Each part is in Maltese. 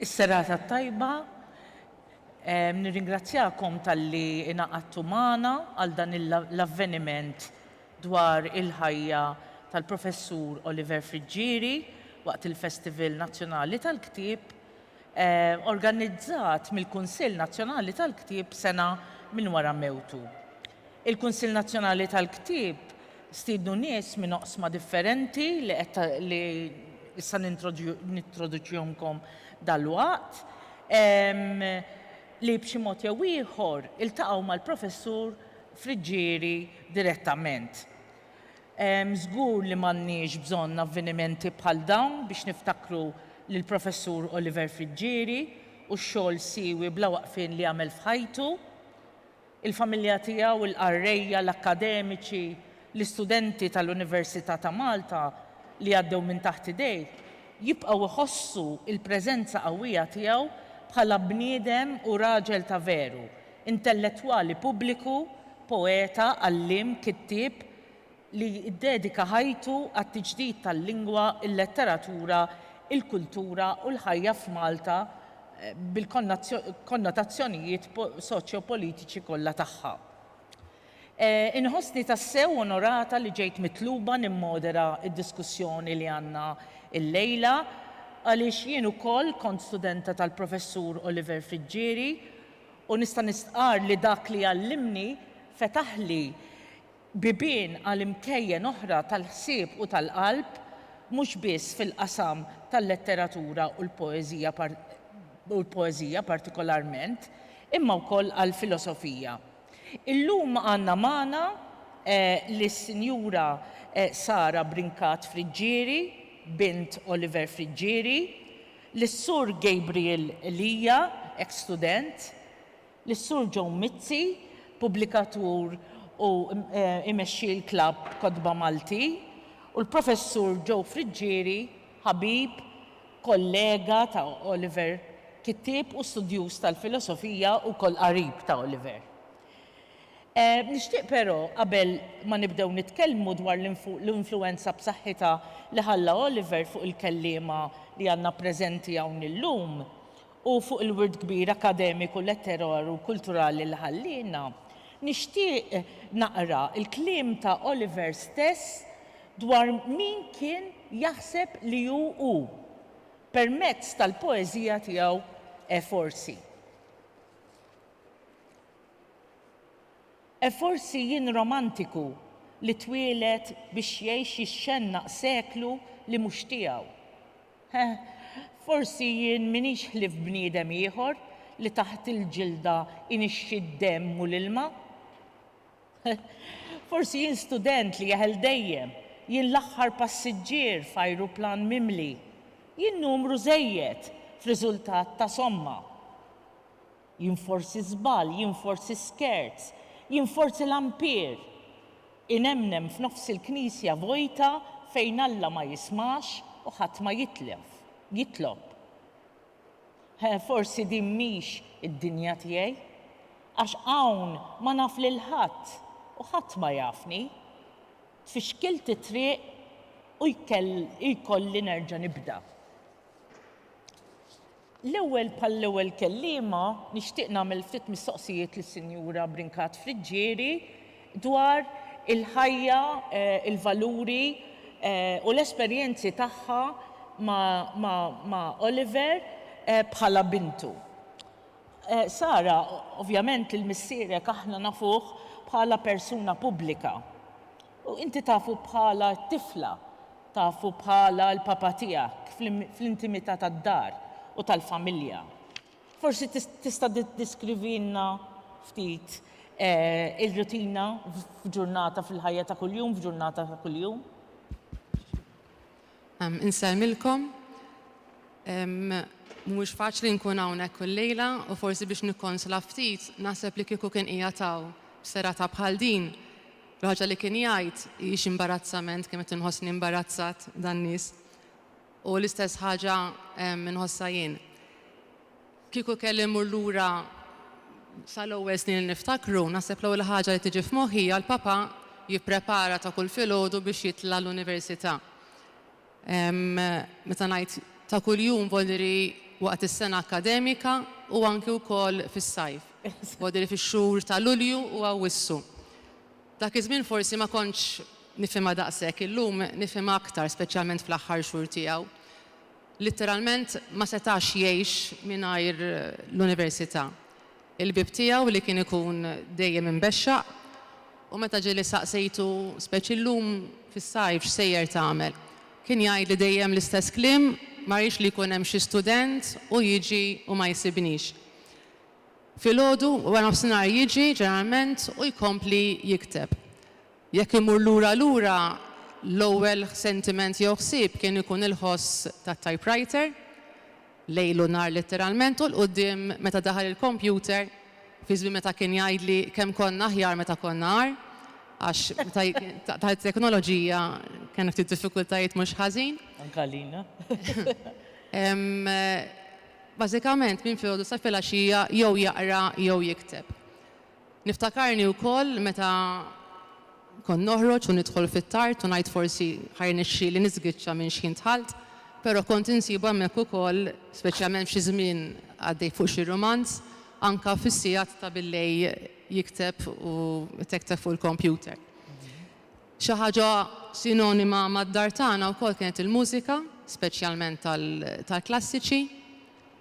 Is-serata t-tajba, nirringrazzjakom tal-li inaqattu magħna għal dan l-avveniment dwar il-ħajja tal-Professur Oliver Friggieri waqt il-Festival Nazzjonali tal-Ktieb organizzat mill-Kunsill Nazzjonali tal-Ktieb sena minn wara mewtu. Il-Kunsill Nazzjonali tal-Ktieb stiednu nies minn oqsma differenti li qed li issa nintroduċihomkom dalwaqt, li b'xi mod jew ieħor iltaqgħu mal-Professur Friggieri direttament. Żgur li m'għandniex bżonn avvenimenti bħal dawn biex niftakru lill-Professur Oliver Friggieri u x-xogħol siewi bla waqfien li għamel f'ħajtu. Il-familja tiegħu, il-qarrejja, l-akkademiċi, l-istudenti tal-Università ta' Malta li għaddew minn taħt idejh jibqgħu jħossu l-preżenza qawwija tiegħu bħala bniedem u raġel ta' veru Intellettwali pubbliku, poeta, għalliem, kittieb li ddedika ħajtu għat-tiġdid tal-lingwa, il-letteratura, il-kultura u l-ħajja f'Malta bil-konnotazzjonijiet soċjopolitiċi kollha tagħha. Inħossni tassew onorata li ġejt mitluba nimmodera d-diskussjoni li għandna llejla għaliex jien ukoll kont studenta tal-Professur Oliver Friggieri, U nista' nistqarr li dak li għallimni fetaħli bibien għal imkejjen oħra tal-ħsieb u tal-qalb, mhux biss fil-qasam tal-letteratura u l-poeżija u l-poeżija partikolarment, imma wkoll għall-filosofija. Illum għandna magħna lis-Sinjura Sara Brincat Friggieri, bint Oliver Friggieri, lis-Sur Gabriel Elia, eks student, lis-Sur Joe Mizzi, pubblikatur u imexxi l-Klabb Kotba Malti, u l-Professur Joe Friggieri, ħabib, kollega ta' Oliver, kittieb u studjuż tal-filosofija u wkoll qarib ta' Oliver. Nixtieq però, qabel ma nibdew nitkellmu dwar l-influwenza b'saħħitha li ħalla Oliver fuq il-kelliema li għandna preżenti hawn illum u fuq il-wirt kbir akademiku, letteraru u kulturali li ħalliena, nixtieq naqra l-kliem ta' Oliver stess dwar min kien jaħseb li hu hu, permezz tal-poeżija tiegħu forsi. E forsi jien romantiku li twieled biex jgħix jixxennaq seklu li mhux tiegħu. E forsi jien m'iniex ħlief bniedem ieħor li taħt il-ġilda inixxi d-demm u l-ilma. E forsi jien student li jeħel dejjem, jien l-aħħar passiġġier f'ajruplan mimli, jien numru żejjed f'riżultat ta' somma. Jien forsi żball, jien forsi skerz, jien forsi l-ampir. Inemnem f'nofs il-knisja vojta fejn Alla ma jismax u ħadd ma jitlef, jitlob. He, forsi din mhix id-dinja tiegħi. Għax hawn ma naf lil ħadd u ħadd ma jafni. Tfixkilt it-triq u jkolli nerġa' nibda. L-ewwel bħall-ewwel kelliema nixtieq nagħmel ftit mistoqsijiet lis-Sinjura Brincat Friggieri dwar il-ħajja, il-valuri u l-esperjenzi tagħha ma' Oliver bħala bintu. Sara, ovvjament lil missierek aħna nafuh bħala persuna pubblika. U inti tafu bħala t-tifla, tafu bħala l-papa tiegħek fl-intimità tad-dar u tal-familja. Forsi tista' tiddeskrivilna ftit ir-rutina f'ġurnata fil-ħajja ta' kuljum, f'ġurnata ta' kuljum? Insellmilkom. Mhuwiex faċli nkun hawnhekk kull lejla u forsi biex nikkonsla ftit, naħseb li kieku kien qiegħed hawn f'serata bħal din, Il-ħaġa li kien jgħid hi xi imbarazzament, kien qed inħossni imbarazzat dan-nies. U l-istess ħaġa inħossha jien. Kieku kelli mmur lura sal-ewwel snin li niftakru, naħseb l-ewwel ħaġa li tiġi f'moħħi hija l-Papa jipprepara ta' kull filgħodu biex jitla' l-Università. Meta ngħid ta' kuljum vuol dire waqt is-sena akkademika u anki wkoll fis-sajf. Vuol dire fix-xhur ta' Lulju u Awwissu. Dak iż-żmien forsi ma kontx nifhimha daqshekk, illum nifhimha aktar speċjalment fl-aħħar xhur tiegħu. Litteralment ma setax jgħix mingħajr l-università. il-bieb tiegħu li kien ikun dejjem imbexxaq u meta ġieli staqsejtu, speċi llum fis-sajf, x'sejjer tagħmel, kien jgħidli dejjem l-istess kliem, ma rridx li jkun hemm xi student u jiġi u ma jsibnix. Filgħodu, waranofsinhar jiġi, ġeneralment, u jkompli jikteb. Jekk immur lura lura, l-ewwel sentiment jew ħsieb kien ikun il-ħoss tat-typewriter, lejl u nhar litteralment u 'l quddiem meta daħal il-kompjuter, fi żmien meta kien jgħidli kemm konna aħjar meta konna agħar, għax meta daħlet it-teknoloġija kellna ftit diffikultajiet mhux ħażin. Anke għalina. Bażikament, minn filgħodu sa filgħaxija jew jaqra jew jikteb. Niftakarni wkoll meta kont noħroġ u nidħol fit-tard u ngħid forsi ħa jirnexxieli niżgiċċa minn xħin dħalt, però kont insibu hemmhekk ukoll, speċjalment f'xi żmien għaddej fuq xi rumanz, anke fis-sigħat ta' billejl jikteb u jtekteb fuq il-kompjuter. Xi ħaġa sinonima mad-dar tagħna wkoll kienet il-mużika, speċjalment tal-klassiċi.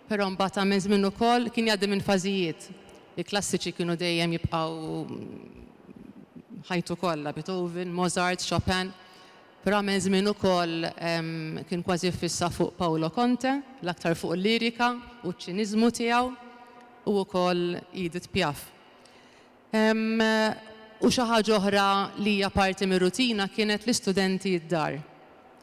Però mbagħad ta' minn żmien ukoll kien jgħaddi minn fażijiet. Il-klassiċi kienu dejjem jibqgħu ħajtu kollha, Beethoven, Mozart, Chopin. Però għamel żmien ukoll kien kważi ffissa fuq Paolo Conte, l-aktar fuq il-lirika u ċ-ċiniżmu tiegħu, u wkoll Edith Piaf. U xi ħaġa oħra li hija parti mir-rutina kienet l-istudenti d-dar.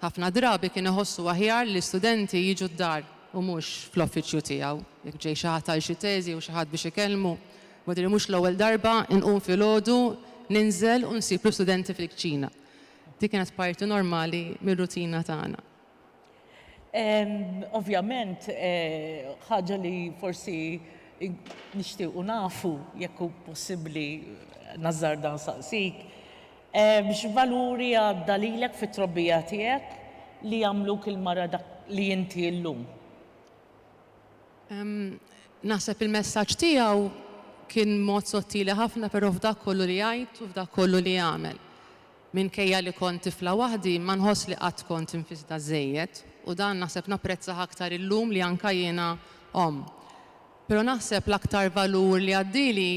Ħafna drabi kien iħossu aħjar li l-istudenti jiġu d-dar u mhux fl-offiċju tiegħu. Jekk ġej xi ħadd għal xi teżi jew xi ħadd biex ikellmu, mhadri mhux l-ewwel darba inqum filgħodu, ninżel u nsib l-istudenti fil-kċina. Dik kienet parti normali mir-rutina tagħna. Ovvjament, ħaġa li forsi nixtiequ nafu jekk hu possibbli nażżarda nsaqsik, x'valuri għadda lilek fit-trobbija tiegħek li għamluk il-mara dak li inti llum? Naħseb il-messaġġ tiegħu kien mod sottili ħafna però f'dak kollu li jgħid u f'dak kollu li jagħmel. Minkejja li kont tifla waħdi, ma nħoss li qatt kont infisda żżejjed, u dan naħseb napprezzah aktar illum li anka jiena omm. Pero naħseb l-aktar valur li għaddieli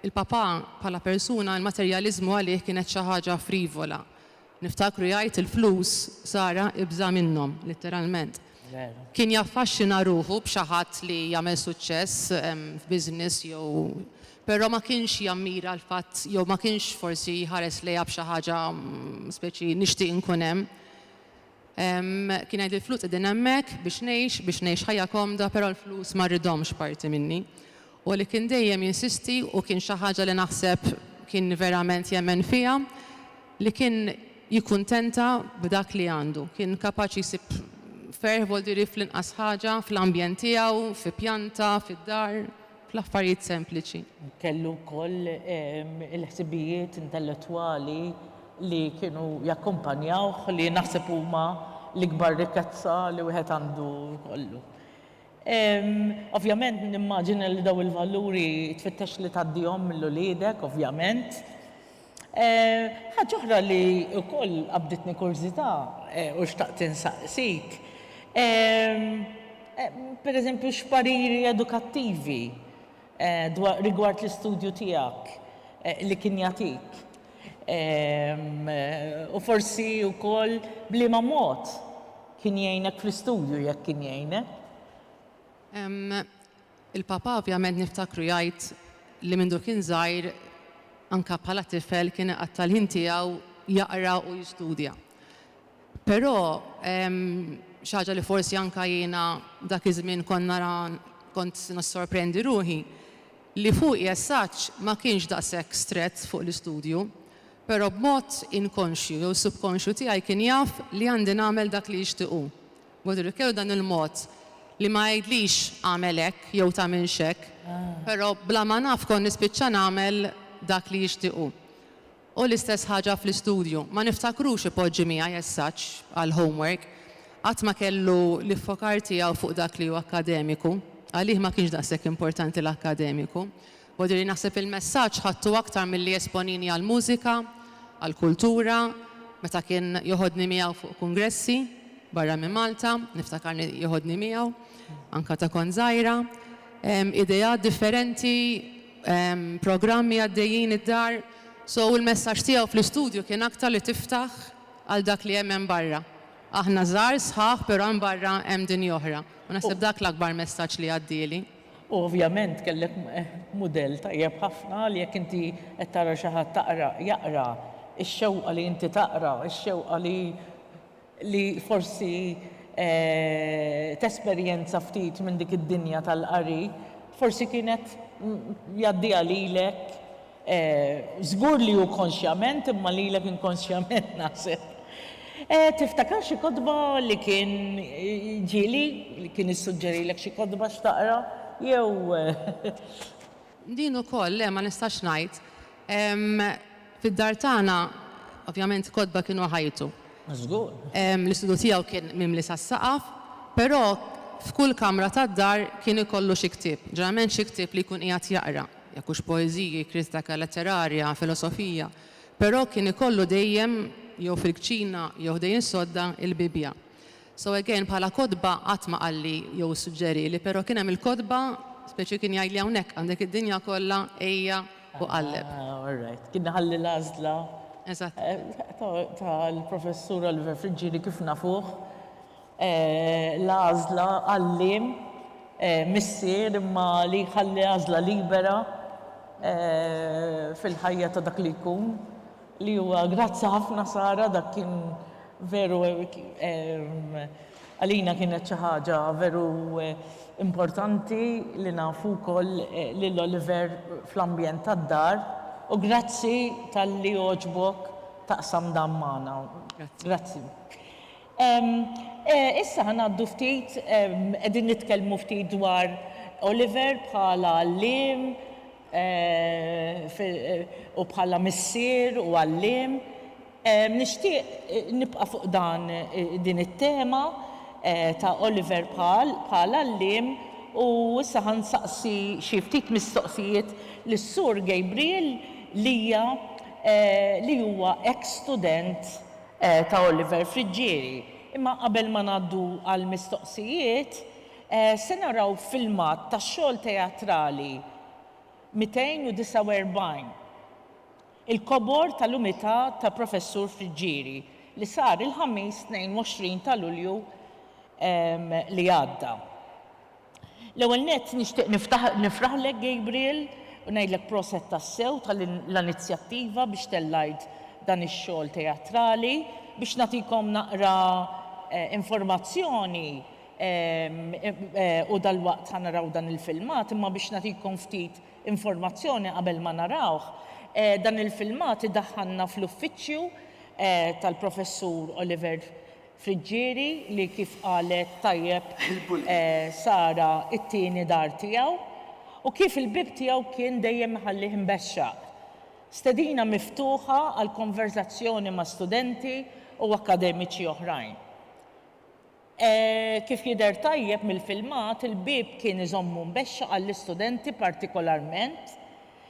il-papà bħala persuna, il-materjaliżmu għalih kienet xi ħaġa frivola. Niftakru jgħid il-flus Sara ibża' minnhom, litteralment. Kien jaffaxxina ruħu b'xi ħadd li jagħmel suċċess f'business jew Però ma kienx jammira l-fatt jew ma kienx forsi jħares lejha b'xi ħaġa speċi nixtieq inkun hemm. Kien jgħid il-flus qegħdin hemmhekk biex ngħix, biex ngħix ħajja komda però l-flus ma rridhomx parti minni. U li kien dejjem jinsisti u kien xi ħaġa li naħseb kien verament jemmen fiha li kien jikkuntenta b'dak li għandu. Kien kapaċi jsib ferħ voldiri fl-inqas ħaġa, fl-ambjent tiegħu, fi pjanta, fid-dar. fl-affarijiet sempliċi. Kellu wkoll il-ħsibijiet intellettwali li kienu jakkumpanjawh li naħseb huma l-ikbar rikkezza li wieħed għandu jkollu. Ovvjament nimmaġina li dawn il-valuri tfittex li tgħaddihom lill-uliedek, ovvjament. Ħaġa oħra li wkoll qabditni kurżità u xtaqt insaqsik, per eżempju x'pariri edukattivi dwar rigward l-istudju tiegħek li kien jagħtik u forsi wkoll b'liema mod kien jgħinek fl-istudju jekk kien jgħinek. Il-Papa ovvjament niftakru jgħid li mindu kien żgħir anke bħala tifel kien iqatta' l-ħin tiegħu jaqra u jistudja. Però xi ħaġa li forsi anke jiena dak iż-żmien kont nara kont nissorprendi ruħi li fuqi as such ma kienx daqshekk strett fuq l-istudju, però b'mod inkonxju jew subkonxju tiegħi kien jaf li għandi nagħmel dak li jixtieq hu. Godric jew dan il-mod li ma jgħidlix agħmel hekk jew tagħmilx hekk, però bla ma naf kont nispiċċa nagħmel dak li jixtieq hu. U l-istess ħaġa fl-istudju, ma niftakrux ipoġġi miegħi as such għall-homework. Qatt ma kellu l-iffokar tiegħu fuq dak li hu akkademiku, għalih ma kienx daqshekk importanti l-akkademiku. Bodri naħseb il-messaġġ ħadtu aktar milli esponini għall-mużika, għall-kultura, meta kien joħodni miegħu fuq kungressi barra minn Malta, niftakarni joħodni miegħu, anka ta' kont żgħira. Ideat differenti, programmi għaddejjin id-dar, so l-messaġġ tiegħu fl-istudju kien aktar li tiftaħ għal dak li hemm hemm barra. Aħna żgħar, sħaħ, però hemm barra hemm dinja oħra. U naħseb dak l-akbar messaġġ li għaddieli. U ovvjament kellek mudell tajjeb ħafna li jekk inti qed tara xi ħadd taqra, jaqra, ix-xewqa li inti taqra, ix-xewqa li li forsi tesperjenza ftit minn dik id-dinja tal-qari, forsi kienet jgħaddiha lilek. Żgur li hu konxjament, imma lilek inkonxjament, naħseb. Tiftakar xi kotba li kien ġieli, li kien issuġġerilek xi kotba x'taqra, jew. Din ukoll, le, ma nistax ngħid. Fid-dar tagħna, ovvjament, kotba kienu ħajtu. Żgur. L-istudju tiegħu kien mimli sas-saqaf, però f'kull kamra tad-dar kien ikollu xi ktieb, ġeneralment xi ktieb li jkun qiegħed jaqra. jekk hux poeżiji, kritika letterarja, filosofija, però kien ikollu dejjem jew fil-kċina jew ħdejn sodda il-Bibbja. So again bħala kotba qatt ma qalli jew issuġġerili, però kien hemm il-kotba speċi kien jgħidli hawnhekk għandek id-dinja kollha ejja u qalleb. Ah all right. Kien iħalli l-għażla Eżattament. tal-Professur Oliver Friggieri kif nafuh. l-għażla għalliem, missier imma li jħalli għażla libera fil-ħajja ta' dak li jkun li huwa. Grazzi ħafna Sara dak kien veru għalina kienet xi ħaġa veru importanti li nafu wkoll lil Oliver fl-ambjent tad-dar u grazzi talli għoġbok taqsam dan magħna. Grazzi. Issa ħa ngħaddu ftit, qegħdin nitkellmu ftit dwar Oliver bħala għalliem u bħala missier u għalliem. Nixtieq nibqa' fuq dan din it-tema ta' Oliver bħala għalliem u issa ħa nsaqsi xi ftit mistoqsijiet lis-Sur Gabriel Lia li huwa eks-student ta' Oliver Friggieri. Imma qabel ma ngħaddu għall-mistoqsijiet, se naraw filmat tax-xogħol teatrali 249, Il-Kobor tal-Umità ta' Professur Friggieri, li sar il-Ħamis 22 ta' Lulju li għadda. L-ewwel nett nixtieq nifraħlek Gabriel u ngħidlek proset tassew ta' l-anizzjattiva biex tellgħid dan ix-xogħol teatrali. Biex nagħtikom naqra informazzjoni u dalwaqt ħa naraw dan il-filmat imma biex nagħtikom ftit informazzjoni qabel ma narawh, dan il-filmat idaħħalna fl-uffiċċju tal-Professur Oliver Friġġieri li kif qalet tajjeb Sara t-tieni dar tiegħu u kif il-bieb tiegħu kien dejjem iħallih imbexxaq. Stedina miftuħa għal konverżazzjoni ma' studenti u akkademiċi oħrajn. Kif jidher tajjeb mill-filmat il-bieb kien iżommu mbexxaq għall-istudenti partikolarment,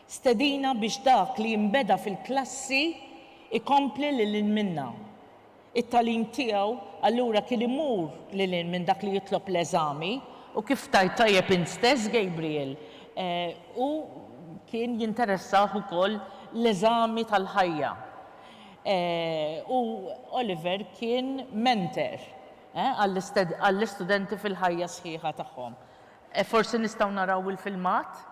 stedina biex dak li jinbeda fil-klassi jkompli lil hinn minnha. It-tagħlim tiegħu allura kien imur lil hinn minn dak li jitlob l-eżami, u kif tgħid tajjeb int stess, Gabriel, hu kien jinteressah ukoll l-eżami tal-ħajja. U Oliver kien mentor għall-istudenti fil-ħajja sħiħa tagħhom. Forsi nistgħu naraw il-filmat?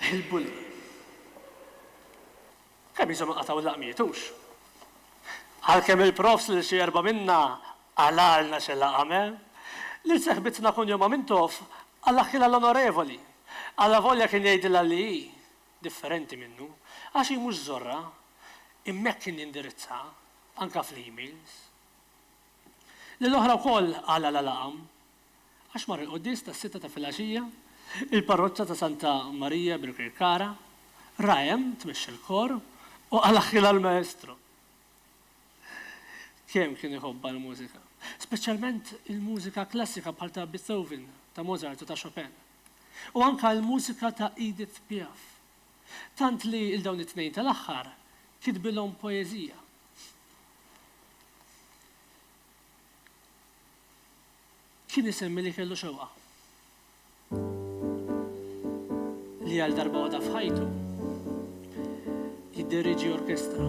Il-bully. Kemm ilhom inqatgħu l-laqmiet, hux? Għalkemm il-profs lil xi erbgħa minna qalalna xi laqam, eh? Lil seħbitna kunjomha Mintoff qala ħilha l-Onorevoli, allavolja kien jgħidilha li hi differenti minnu, għax hi mhux żorra, imma hekk kien jindirizzha, anke fl-emails. Lill-oħra wkoll qalalha laqam, Għax mar il-quddies tas-sitta ta' filgħaxija, il-parroċċa ta' Santa Marija Birkirkara, ra hemm tmexxa l-kor u qal aħħi l-Maestro. Kemm kien iħobbha l-mużika. Speċjalment il-mużika klassika bħal ta' Beethoven, ta' Mozart u ta' Chopin. U anke l-mużika ta' Edith Piaf. Tant li 'l dawn it-tnejn tal-aħħar kitbilhom poeżija. Kien isemmi li kellu xewqa li għal darba waħda f'ħajtu jidderieġi orkestra.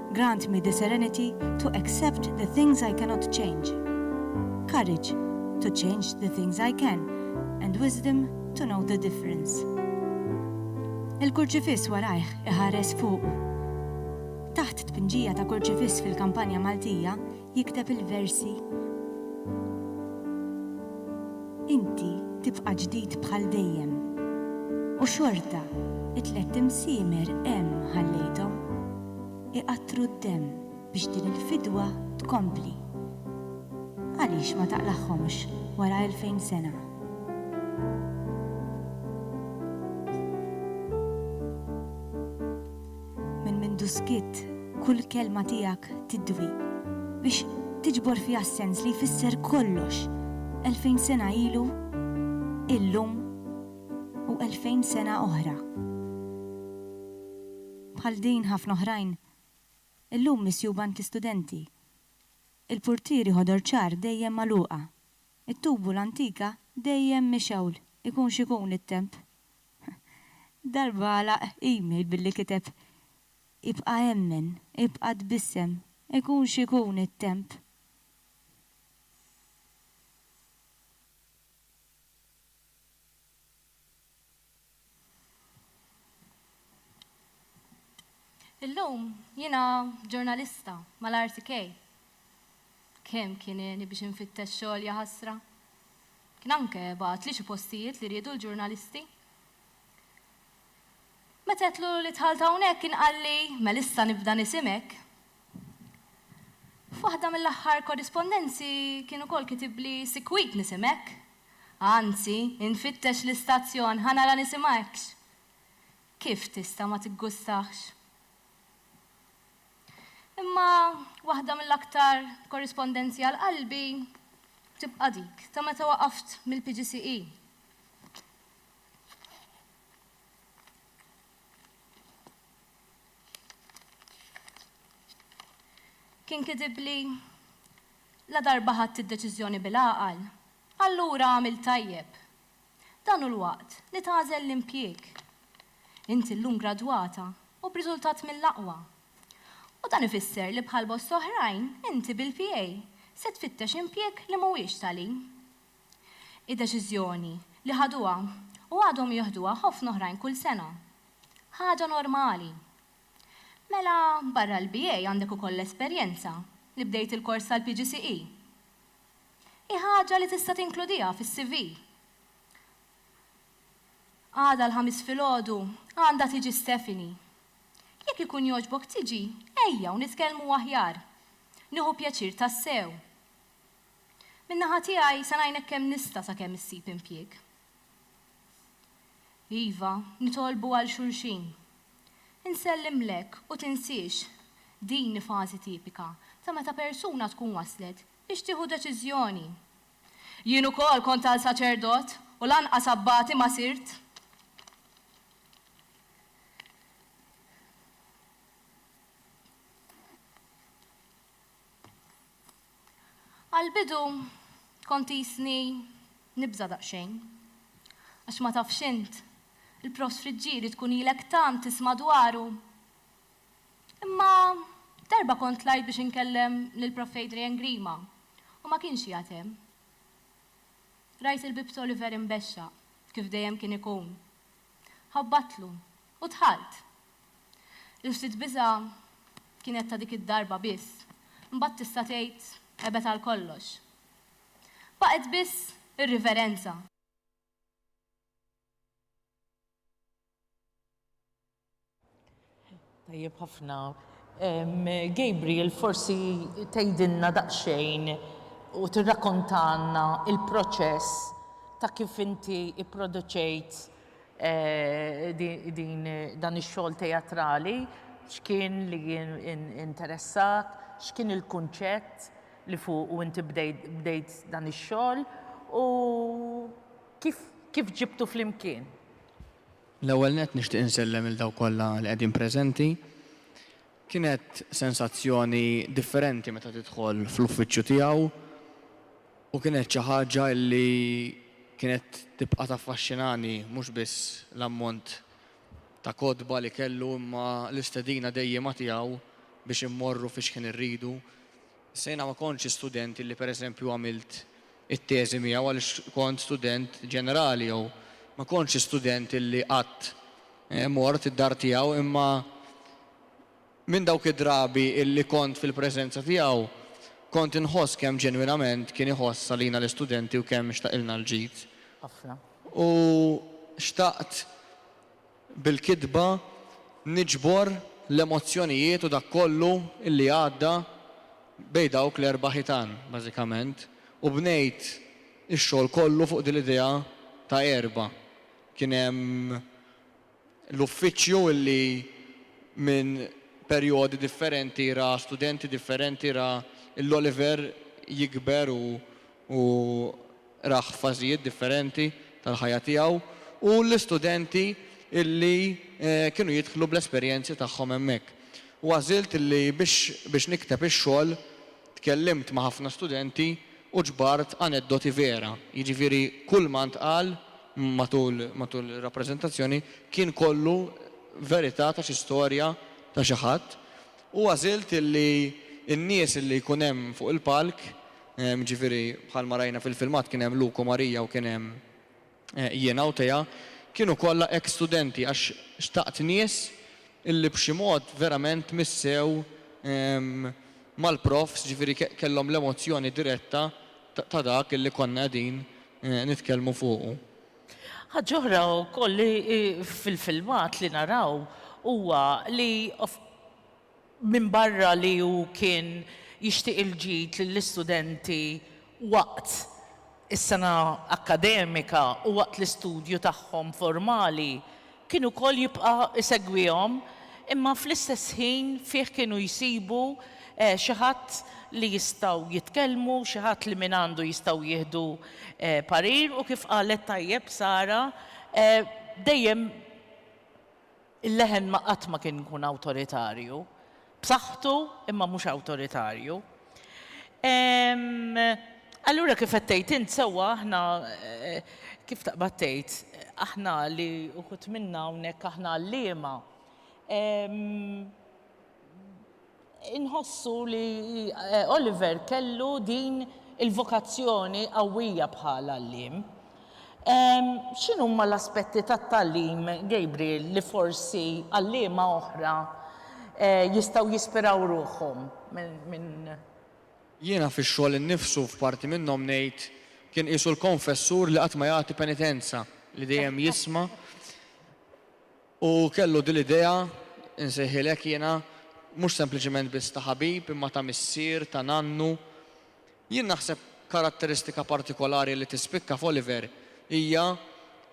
Grant me the serenity to accept the things I cannot change, courage to change the things I can, and wisdom to know the difference. Il-kurċifiss warajh iħares fuqu. Taħt tpinġija ta' kurċifiss fil-kampanja Maltija, jikteb il-versi. Inti tibqa' ġdid bħal dejjem. U xorta t-tlett imsiemer hemm ħallejthom. Iqattru d-demm biex din il-fidwa tkompli. Għaliex ma taqlagħhomx wara elfejn sena? Minn mindu skitt, kull kelma tiegħek tidwi, biex tiġbor fiha s-sens li jfisser kollox, elfejn sena ilu, illum u elfejn sena oħra. Bħal din ħafna oħrajn illum misjuba għand l-istudenti. Il-purtieri ħodor ċar dejjem magħluqa. It-tubu l-antika dejjem mixewl. Ikun x'ikun it-temp, Darba għalaq email billi kiteb, Ibqa' emmen, ibqa' tbissem, ikun x'ikun it-temp. Illum jiena ġurnalista mal-RTK. Kemm kien għeni biex infittex xogħol, jaħasra! Kien anke bagħat li xi postijiet li riedu l-ġurnalisti. Meta għedtlu li dħalt hawnhekk kien qalli, Mela issa nibda nisimek. F'waħda mill-aħħar korrispondenzi kien ukoll kitibli sikwit nisimek. Anzi, infittex l-istazzjon ħa nara nisimgħekx. Kif tista' ma tiggustahx? Imma waħda mill-aktar korrispondenzji għal qalbi tibqa' dik ta' meta waqaft mill-PGCE. Kien kitibli, Ladarba ħadt id-deċiżjoni bil-għaqal, allura għamilt tajjeb. Dan hu l-waqt li tagħżel l-impjieg. Inti llum gradwata u b'riżultat mill-aqwa. U dan ifisser li bħal bosta oħrajn inti bil-PA se tfittex impjieg li mhuwiex tali. Hi deċiżjoni li ħaduha u għadhom jieħduha ħofna oħrajn kull sena. Ħaġa normali. Mela barra l-BA għandek ukoll l-esperjenza li bdejt il-kors tal-PGCE? Hi ħaġa li tista' tinkludiha fis-CV. Għada l-Ħamis filgħodu għandha tiġi Stephanie. Jekk ikun jogħġbok tiġi, ejja u nitkellmu aħjar. Nieħu pjaċir tassew. Min-naħa tiegħi se ngħinek kemm nista' sakemm issib impjieg. Iva, nitolbu għal xulxin. Insellimlek u tinsiex, din hi fażi tipika ta' meta persuna tkun waslet Biex tieħu deċiżjoni. Jien ukoll kont għal saċerdot, u lanqas abbati ma sirt. Għall-bidu kont qisni nibża' daqsxejn. Għax ma tafx int, il-Profs Friggieri tkun ilek tant tisma' dwaru. Imma darba kont tlajt biex inkellem lill-Prof. Adrian Grima u ma kienx qiegħed hemm. Rajt il-bieb t'Oliver imbexxaq, kif dejjem kien ikun. Ħabbattlu u dħalt. Il-ftit biża' kienet ta' dik id-darba biss, imbagħad tista' tgħid ebet għal kollox. Baqgħet biss ir-riverenza. Tajjeb ħafna. Gabriel, forsi tgħidilna daqsxejn u tirrakontalna il-proċess ta' kif inti ipproduċejt din dan ix-xogħol teatrali, x'kien li interessak, x'kien il-kunċett li fuqu inti bdejt dan ix-xogħol u Kif kif ġibtu flimkien? L-ewwel nett nixtieq insellem lil dawk kollha li qegħdin preżenti. Kienet sensazzjoni differenti meta tidħol fl-uffiċċju tiegħu u kienet xi ħaġa li kienet tibqa' taffaxxinani mhux biss l-ammont ta' kotba li kellu imma l-istedina dejjiema tiegħu biex immorru fi xħin irridu. Issa jiena ma kontx student illi pereżempju għamilt it-teżi miegħu għaliex kont student ġenerali jew ma kontx student illi qatt mort id-dar tiegħu imma minn dawk id-drabi illi kont fil-preżenza tiegħu kont inħoss kemm ġenwinament kien iħoss għalina l-istudenti u kemm xtaqilna l-ġid u xtaqt Bil-kitba niġbor l-emozzjonijiet u dak kollu li għadda bejn dawk l-erba' ħitan, bażikament, u bnejt ix-xogħol kollu fuq din l-idea ta' erba'. Kien hemm l-uffiċċju li minn perjodi differenti ra studenti differenti, ra lill-Oliver jikber u Rah fażijiet differenti tal-ħajja tiegħu u l-istudenti li kienu jidħlu bl-esperjenzi tagħhom hemmhekk. U għażilt li biex nikteb ix-xogħol tkellimt ma' ħafna studenti u ġbart aneddoti vera, jiġifieri kulma ntqal matul ir-rappreżentazzjoni kien kollu verità ta' xi storja ta' xi ħadd. U għażilt li n-nies li jkun hemm fuq il-palk jiġifieri bħalma rajna fil-filmat kien hemm Luke u Marija u kien hemm jiena u Tea, kienu kollha eks studenti għax xtaqt nies illi b'xi mod verament missew mal-profs, jiġifieri kellhom l-emozzjoni diretta ta' dak illi konna qegħdin nitkellmu fuqu. Ħaġa oħra wkoll li fil-filmat li naraw huwa li Minbarra li hu kien jixtieq il-ġid lill-istudenti waqt is-sena akkademika u waqt l-istudju tagħhom formali, kien ukoll jibqa' jsegwihom imma fl-istess ħin fih kienu jsibu xi ħadd li jistgħu jitkellmu, xi ħadd li mingħandu jistgħu jieħdu parir u kif qalet tajjeb Sara dejjem, Il-leħen ma qatt ma kien ikun awtoritarju. B'saħħtu, imma mhux awtoritarju. Allura kif qed tgħid int sewwa aħna, kif taqbad tgħid, aħna li uħud minna hawnhekk aħna għalliema, Inħossu li Oliver kellu din il-vokazzjoni qawwija bħal għalliem. X'inhuma l-aspetti tat-tagħlim, Gabriel, li forsi għalliema oħra jistgħu jispiraw ruħhom minn. Jiena fix-xogħol innifsu f'parti minnhom ngħid kien qisu l-konfessur li qatt ma jagħti penitenza, li dejjem jisma'. U kellu din l-idea, insejħilek jiena, mhux sempliċement biss ta' ħabib, imma ta' missier, ta' nannu. Jien naħseb karatteristika partikolari li tispikka f'Oliver hija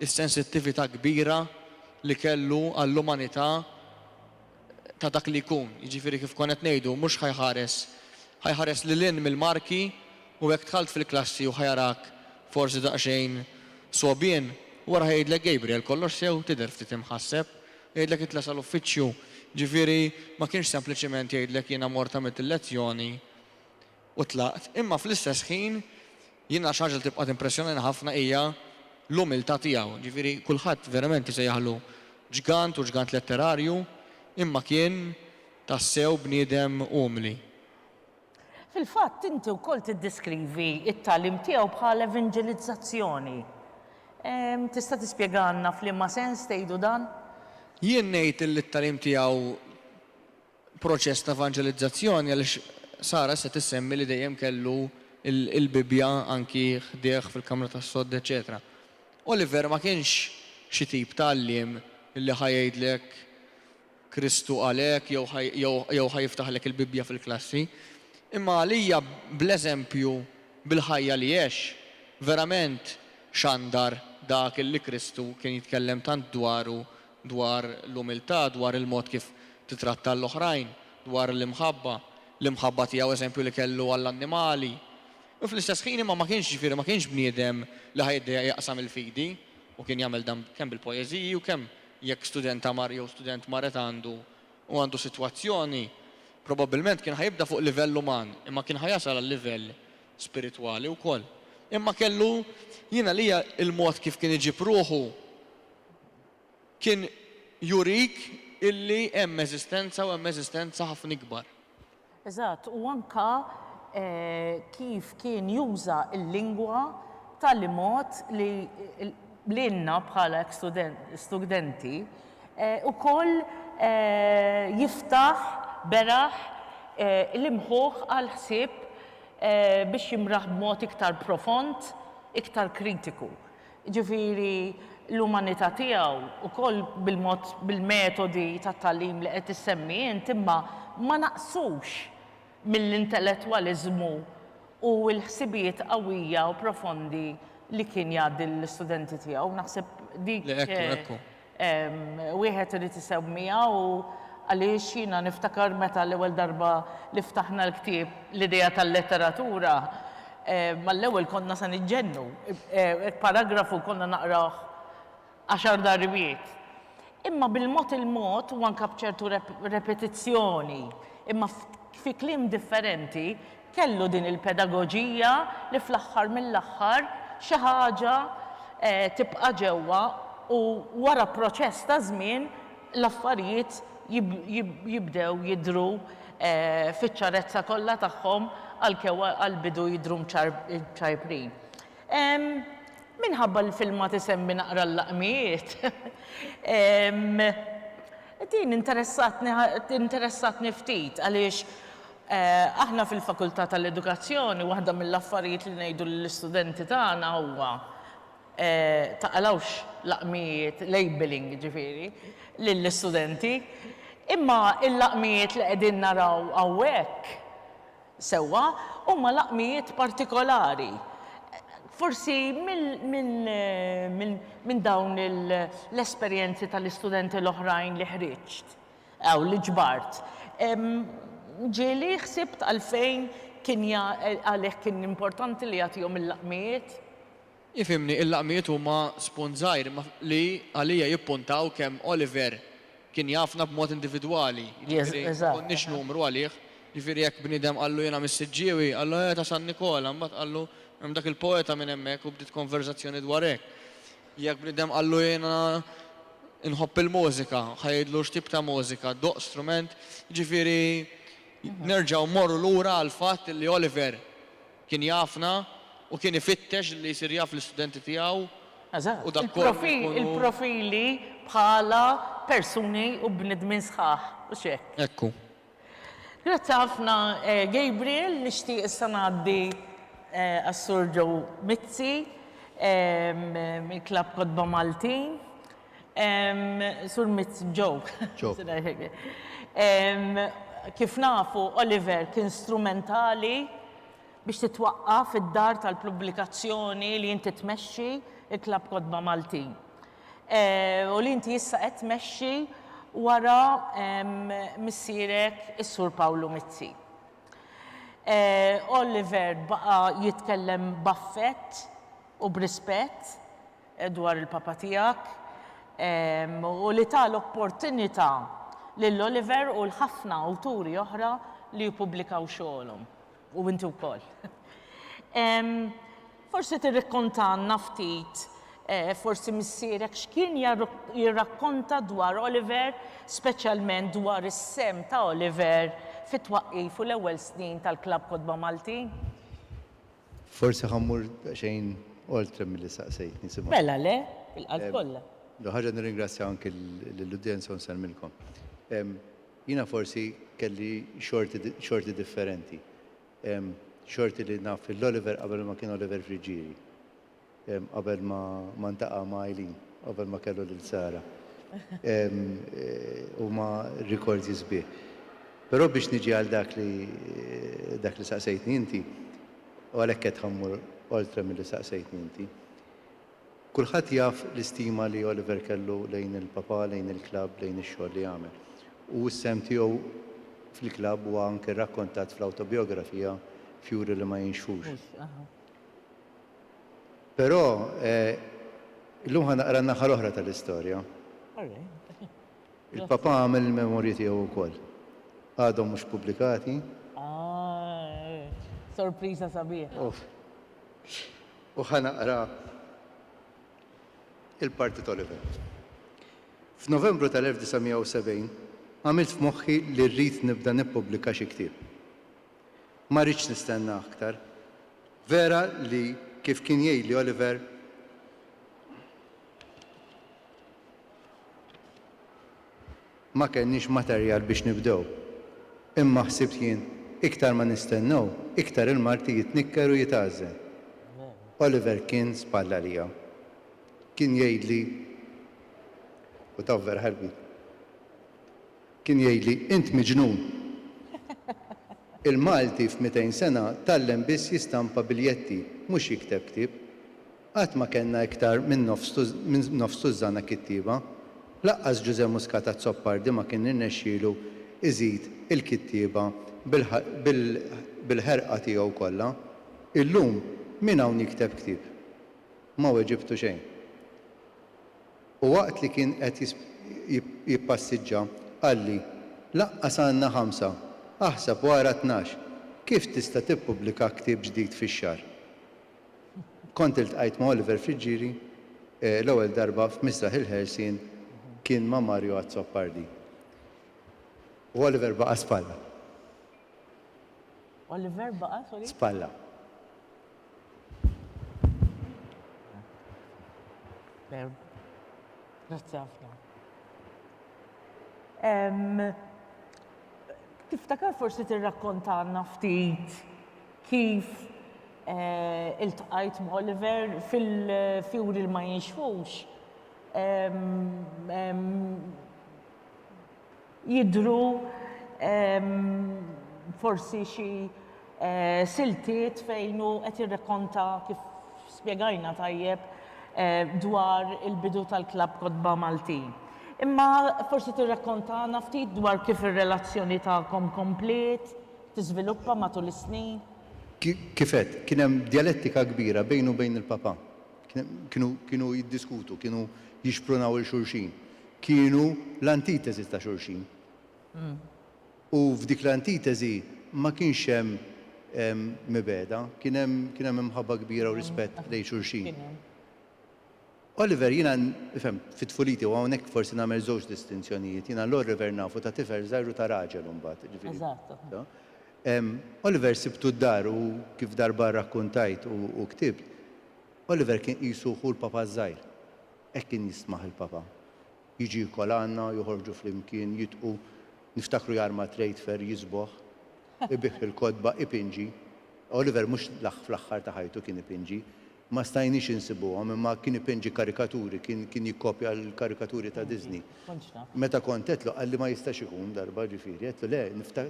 s-sensittività kbira li kellu għall-umanità ta' dak li jkun, jiġifieri kif kont qed ngħidu, mhux ħa jħares, ħa jħares lil hinn mill-marki, U hekk dħalt fil-klassi u ħa jarak forsi daqsxejn sogħbien, wara ħa jgħidlek Gabriel kollox sew, tidher ftit imħasseb, jgħidlek itla' sal-uffiċċju, ġifieri ma kienx sempliċiment jgħidlek jiena mort għamilt il-lezzjoni u tlaqt, imma fl-istess ħin jiena xi ħaġa li tibqa' timpressjonani ħafna hija l-umiltà tiegħu, ġifieri kulħadd verament isejjaħlu ġgant u ġgant letterarju, imma kien tassew bniedem umli. Fil-fatt, inti wkoll tiddeskrivi t-tagħlim tiegħu bħal evanġelizzazzjoni. Tista' tispjegalna f'liema sens tgħidu dan? Jien ngħid li t-tagħlim tiegħu proċess ta' evanġelizzazzjoni għaliex Sara issa tissemmi li dejjem kellu l-Bibbja anki ħdejh fil-kamra tas-sodd eċċetera. Oliver ma kienx xi tip ta' għalliem li ħa jgħidlek Kristu qalek jew ħa jew ħa jiftaħlek il-Bibbja fil-klassi. Imma għalija bl-eżempju, bil-ħajja li għex, verament xandar dak li Kristu kien jitkellem tant dwaru, dwar l-umiltà, dwar il-mod kif titratta l-oħrajn, dwar l-imħabba, l-imħabba tiegħu eżempju li kellu għall-annimali. U fl-istess ħin imma ma kienx ġifieri ma kienx bniedem li ħa jiddejjaq jaqsam il-fidi u kien jagħmel dan kemm bil-poeżiji u kemm Jekk studenta mar jew student marret għandu u għandu sitwazzjoni, probabbilment kien ħa jibda fuq livell uman, imma kien ħa jasal għal livell spiritwali wkoll. Imma kellu, jien għalija il-mod kif kien iġib ruħu kien jurik illi hemm eżistenza u hemm eżistenza ħafna ikbar. Eżatt, u anke kif kien juża l-lingwa b'tali mod li lilna bħala ex-studenti wkoll jiftaħ beraħ l-imħuħ għall-ħsieb biex jimraħ b'mod iktar profond, iktar kritiku. jiġifieri l-umanità tiegħu, ukoll bil-mod, bil-metodi tat-tagħlim li qed issemmi int, imma ma naqsux mill-intellettwaliżmu u l-ħsibijiet qawwija u profondi li kien jgħaddi lill-istudenti tiegħu. Naħseb dik. Le, ekku, ekku. Wieħed irid isewwmiha u għaliex jiena niftakar meta l-ewwel darba li ftaħna l-ktieb L-Idea tal-Letteratura, mal-ewwel konna se niġġennu. Paragrafu konna naqrawh għaxar darbiet. Imma bil-mod il-mod u anke b'ċertu repetizzjoni, imma fi kliem differenti, Kellu din il-pedagoġija li fl-aħħar mill-aħħar xi ħaġa tibqa' ġewwa u wara proċess ta' żmien l-affarijiet jibdew jidhru fiċ-ċarezza kollha tagħhom għalkew għall-bidu jidhru mċajprin. Minħabba li filmat isemmi naqra l-laqmiet, din interessatni interessatni ftit għaliex Aħna fil-Fakultà tal-Edukazzjoni waħda mill-affarijiet li ngħidu lill-istudenti tagħna huwa taqalgħux laqmijiet, labelling jiġifieri, lill-istudenti. Imma l-laqmijiet li qegħdin naraw hawnhekk sewwa huma laqmijiet partikolari. Forsi minn dawn l-esperjenzi tal-istudenti l-oħrajn li ħriġt. Hawn li ġbart. Ġieli ħsibt għalfejn kien għalih kien importanti li jagħtihom il-laqmijiet. Ifhimni, il-laqmijiet huma spun żgħir li għalija jippuntaw kemm Oliver kien jafna b'mod individwali, jiġifieri ma konniex numru għalih. Jiġifieri jekk bniedem qallu jiena mis-Siġġiewi, qallu, eh, ta' San Nikola, mbagħad qallu hemm dak il-poeta minn hemmhekk u bdiet konverżazzjoni dwar hekk. Jekk bniedem qallu jiena nħobb il-mużika, ħa jgħidlu x'tip ta' mużika, doqq strument, jiġifieri nerġgħu mmorru lura għall-fatt li Oliver kien jafna u kien ifittex li jsir jaf l-istudenti tiegħu u dak kollu li jkunu. Eżatt, il-profili bħala persuni u bnedmin sħaħ, hux hekk? Hekk hu. Grazzi ħafna Gabriel, nixtieq issa ngħaddi għas-Sur Joe Mizzi mill-Klabb Kotba Maltin. Sur Mizzi, Joe, kif nafu Oliver kien strumentali biex titwaqqaf id-dar tal-pubblikazzjoni li inti tmexxi, il-Klabb Kotba Maltin. u li inti issa qed tmexxi wara missierek is-Sur Pawlu Mizzi. Oliver baqa' jitkellem b'affett u b'rispett dwar il-Papa tiegħek u li ta l-opportunità lil Oliver u l-ħafna awturi oħra li jippubblikaw xogħolhom. U inti wkoll. Forsi tirrikkontalna ftit, forsi missierek x'kien jirrakkonta dwar Oliver, speċjalment dwar is-sehem ta' Oliver fit-twaqqif u l-ewwel snin tal-Klabb Kotba Maltin? Forsi ħa mmur daqsxejn oltre milli saqsejtni, Simon. Mela le, bil-qalb kollha. L-ewwel ħaġa nirringrazzja anki lill-udjenza u nsellmilkom. Jiena forsi kelli xorti xorti differenti. Xorti li naf lil Oliver qabel ma kien Oliver Friggieri. Qabel ma ma ntaqa' ma' Eileen, qabel ma kellu lil Sara. Huma rikordji sbieħ. Però biex niġi għal dak li dak li saqsejtni inti, u għalhekk qed ħammur oltre milli saqsejtni inti. Kulħadd jaf l-istima li Oliver kellu lejn il-Papà, lejn il-klabb, lejn ix-xogħol li għamel. U s-sehem tiegħu fil-klabb huwa anke rrakkontat fl-awtobijografija f'juri li ma jinxfux. Però, illum ħa naqra n-naħa l-oħra tal-istorja. Il-Papà għamel il-memorji tiegħu wkoll. Għadhom mhux pubblikati. Sorpriża sabiħa. u ħa naqra l-parti tal-event. F'Novembru tal-1970 għamilt f'moħħi li rrid nibda nippubblika xi ktieb. Ma ridtx nistenna aktar. Vera li kif kien jgħidli Oliver, ma kellniex materjal biex nibdew. Imma ħsibt jien, iktar ma nistennew, iktar il-marti jitnikker u jitgħażżen. Oliver kien spalla għalija. Kien jgħidli, u taf vera ħalbit, kien jgħidli, int miġnun! Il-Malti f'mitejn sena tgħallem biss jistampa biljetti, mhux jikteb ktieb. Qatt ma kellna iktar minn nofs tużżana kittieba. Lanqas Ġużè Muscat Azzopardi ma kien irnexxielu iżid il-kittieba bil-ħerqa tiegħu kollha. Illum min hawn jikteb ktieb? Ma weġibtu xejn. U waqt li kien qed jippassiġġa qalli, Lanqas għandna ħamsa, aħsab u ara tnax! Kif tista' tippubblika ktieb ġdid fix-xahar? Kont iltqajt ma' Oliver Friggieri l-ewwel darba f'Misraħ il-Ħelsien kien ma' Mario Azzopardi. U Oliver baqa' spalla. Oliver baqa', sorry? Spalla. Veru. Grazzi ħafna. Tiftakar forsi tirrakkontalna ftit kif iltqajt m'Oliver fil-fjuri li ma jinxfux jidhru forsi xi siltiet fejn hu qed jirrakkonta kif spjegajna tajjeb dwar il-bidu tal-Klabb Kotba Maltin. Imma forsi tirrakkontana ftit dwar kif ir-relazzjoni tagħkom kompliet? tiżviluppa matul is-snin? Kif għedt, kien hemm djalettika kbira bejnu u bejn il-Papa. Kienu kienu jiddiskutu, kienu jixprunaw 'il xulxin. Kienu l-antiteżi ta' xulxin. U f'dik l-antiteżi ma kienx hemm mibegħda, kien hemm kien hemm imħabba kbira u rispett lejn xulxin. Oliver, jiena nifhem, fi tfuliti, u hawnhekk forsi nagħmel żewġ distinzjonijiet, jiena l-Orriver nafu ta' tifel żgħir u ta' raġel imbagħad, ġifieri. Eżatt. Oliver sibtu d-dar u kif darba rrakkuntajt u ktibt, Oliver kien qisu ħu l-Papa ż-żgħir. Hekk kien jistmaħ il-Papa. Jiġi jiekol għandna, joħorġu flimkien, jidqu, niftakru jarma trade fair, jisboħ, ibigħ il-kotba, ipinġi. Oliver mhux fl-aħħar ta' ħajtu kien ipinġi. Ma stajniex insibuhom, imma kien ipenġi karikaturi, kien, kien jikkopja l-karikaturi ta' Disney. Meta kont għedtlu, qalli ma jistax ikun, darba, ġifieri, għedtlu le,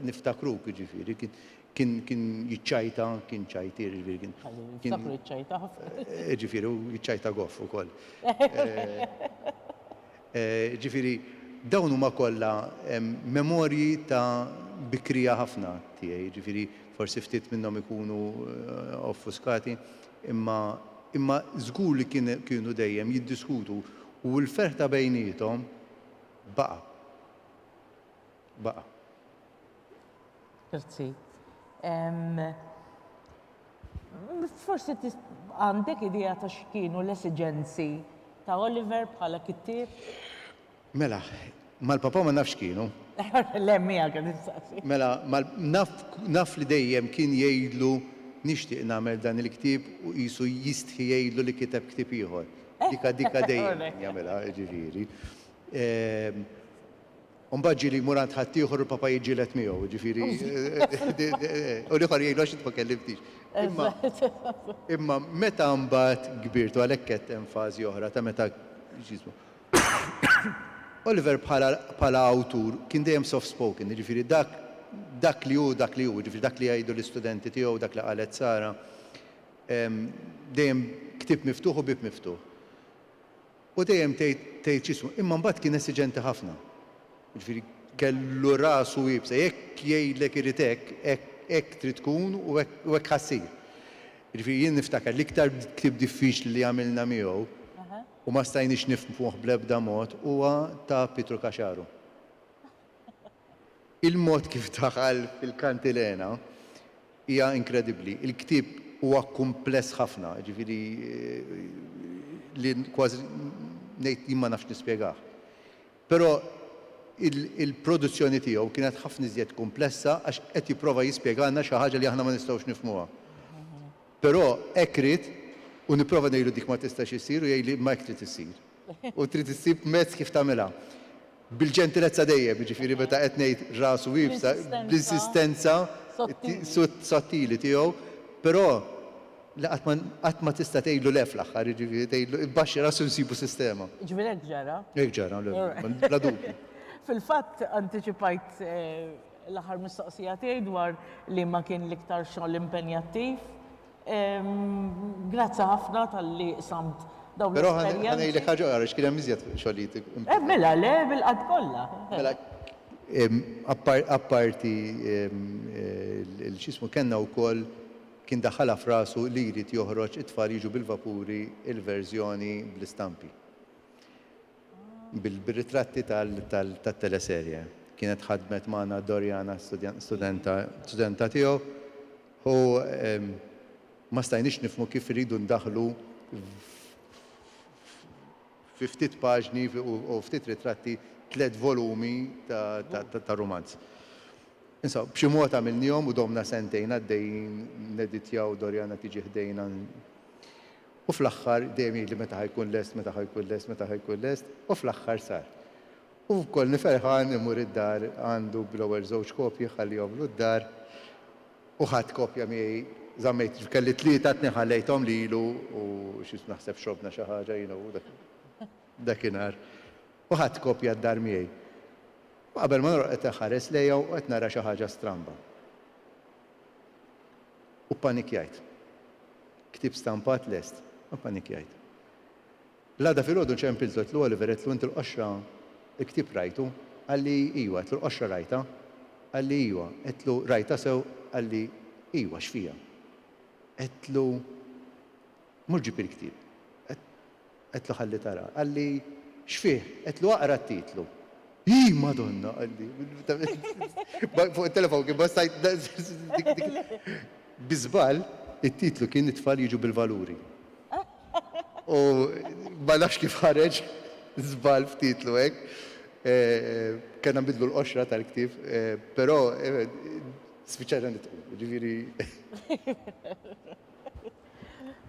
niftakruk, jiġifieri, kien, kien, kien jiċċajta, kien ċajtier, jiġifieri, kien, kien, Niftakru jiċċajta ħafna. jiġifieri, u jiċċajta goff ukoll. Jiġifieri, dawn huma kollha memorji ta' bikrija ħafna tiegħi, jiġifieri, Forsi ftit minnhom ikunu offuskati, imma imma żgur li kien kienu dejjem jiddiskutu u l-ferħ ta' bejniethom baqa'. Baqa'. Grazzi. Forsi tis għandek idea ta' x'kienu l-esiġenzi ta' Oliver bħala kittieb? Mela, mal-papà ma nafx kienu. Le, miegħek qed insaqsi. Mela, mal, naf, naf li dejjem kien jgħidlu nixtieq nagħmel dan il-ktieb u qisu jistħi jgħidlu li kiteb ktieb ieħor. Dika, dika dejjem kien jagħmilha, jiġifieri. Ehm, u mbagħad ġieli jmur għand ħaddieħor u l-papà jiġġieled miegħu, jiġifieri, u l-ieħor jgħidlu għax int ma kellimtnix. Imma, imma meta mbagħad kbirt, u għalhekk għedt hemm fażi oħra ta' meta, x'jismu. Oliver bħala awtur kien dejjem soft spoken, jiġifieri dak dak li hu dak li hu, jiġifieri dak li jgħidu l-istudenti tiegħu, dak li qalet Sara, dejjem ktieb miftuħ u bieb miftuħ. U dejjem tgħid tgħid x'jismu, imma mbagħad kien esiġenti ħafna. Jiġifieri kellu rasu iebsa, jekk jgħidlek irid hekk, hekk hekk trid tkun u hekk u hekk ħa ssir. Jiġifieri jien niftakar l-iktar ktieb diffiċli li għamilna miegħu, U ma stajniex nifhmuh bl-ebda mod, huwa ta' Pietru Caxaru. Il-mod kif daħal fil-kantilena hija inkredibbli. Il-ktieb huwa kumpless ħafna, jiġifieri li kważi ngħid jien ma nafx nispjegah. Però il-produzzjoni tiegħu kienet ħafna iżjed kumplessa għax qed jipprova jispjegalna xi ħaġa li aħna ma nistgħux nifhmuha. Però hekk ried, u nipprova ngħidlu dik ma tistax issir u jgħidli imma hekk trid issir. U trid issib mezz kif tagħmilha. Bil-ġentilezza dejjem, jiġifieri meta qed ngħid rasu iebsa, bl-insistenza sottili tiegħu, però li qatt ma qatt ma tista' tgħidlu le fl-aħħar, jiġifieri tgħidlu ibbaxxi rasu nsibu sistema. Jiġifieri hekk ġara? Hekk ġara, bla dubju. Fil-fatt antiċipajt L-aħħar mistoqsija tiegħi dwar liema kien l-iktar xogħol impenjattiv. Grazzi ħafna talli qsamt dawn l-esperjenzi. Però ħa ngħidlek ħaġa oħra għaliex kien hemm iżjed xogħlijiet impenjattivi. Eh mela le bil-qgħad kollha. Mela apparti l-x'jismu kellna wkoll kien daħħalha f'rasu li jrid joħroġ it-tfal jiġu bil-vapuri l-verżjoni bl-istampi. bir-ritratti tat-teleserje. Kienet ħadmet magħna Doriana, studenta tiegħu, u ma stajniex nifhmu kif irridu ndaħħlu fi ftit paġni u ftit ritratti tliet volumi ta' rumanz. Insomma, b'xi mod għamilniehom u domna sentejn għaddejjin neditjaw, Doriana tiġi ħdejna, U fl-aħħar dejjem jgħidli meta ħa jkun lest, meta ħa jkun lest, meta ħa jkun lest, u fl-aħħar sar. U konni ferħan immur id-dar għandu bl-ewwel żewġ kopji ħallihomlu d-dar u ħadt kopja miegħi żammejt kelli tlieta t-tnejn ħallejthom lilu u xi naħseb xrobna xi ħaġa jiena u dak dakinhar u ħadt kopja d-dar miegħi. U qabel ma norqod qed inħares lejha u qed nara xi ħaġa stramba. U ppanikjajt. Ktieb stampat lest, ma ppanikjajt. L-għada filgħodu ċempiltu għedtlu Oliver għedtlu int il-qoxra l-ktieb rajtu? Qalli ijwa għedtlu l-qoxra rajtha? Qalli ijwa għedtlu rajtha sew qalli ijwa x'fiha? Għedtlu mhux ġib il-ktieb. Għedtlu ħalli tara. Qalli, X'fih? Għedtlu aqra t-titlu. Iih Madonna! qalli. Fuq it-telefon kien bassajt Bi żball, it-titlu kien It-tfal jiġu bil-valuri. U ma nafx kif ħareġ żball f'titlu hekk. Kellna nbiddlu l-qoxra tal-ktieb, però spiċċajna nidħku. Jiġifieri.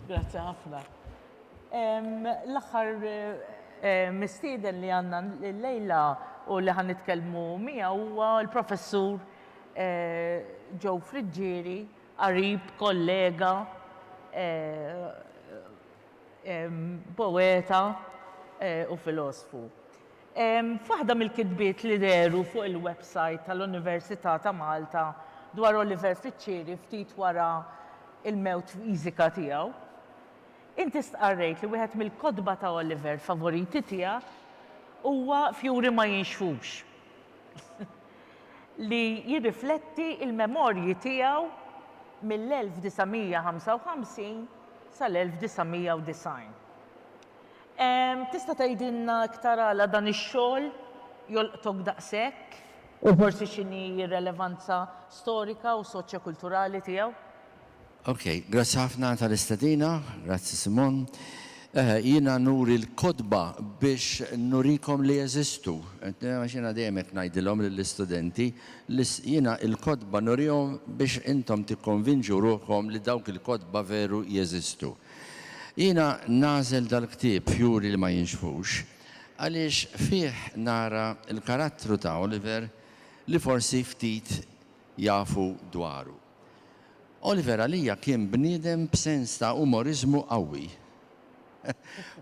Grazzi ħafna. L-aħħar mistieden li għandna l-lejla u li ħan nitkellmu miegħu huwa l-professur Joe Friggieri, qarib, kollega, poeta u filosfu. F'waħda mill-kitbiet li dehru fuq il-websajt tal-Università ta' Malta dwar Oliver Fiċċieri ftit wara l-mewt fiżika tiegħu, inti stqarrejt li wieħed mill-kotba ta' Oliver favoriti tiegħek huwa Fjuri ma jinxfux, li jirrifletti l-memorji tiegħu mill-1955 sal-1990. Tista' tgħidilna iktar għala dan ix-xogħol jolqtok daqshekk u forsi x'inhi r-relevanza storika u soċjokulturali tiegħu? Ok, grazzi ħafna tal-istedina. Grazzi Simon. Eħe, jiena nuri l-kotba biex nurikom li jeżistu. Għax jiena dejjem hekk ngħidilhom lill-istudenti, li jiena l-kotba nurihom biex intom tikkonvinġu ruħkom li dawk il-kotba veru jeżistu. Jiena nagħżel dal-ktieb f'juri li ma jinxfux għaliex fih nara l-karattru ta' Oliver li forsi ftit jafu dwaru. Oliver għalija kien bniedem b'sens ta' umoriżmu qawwi.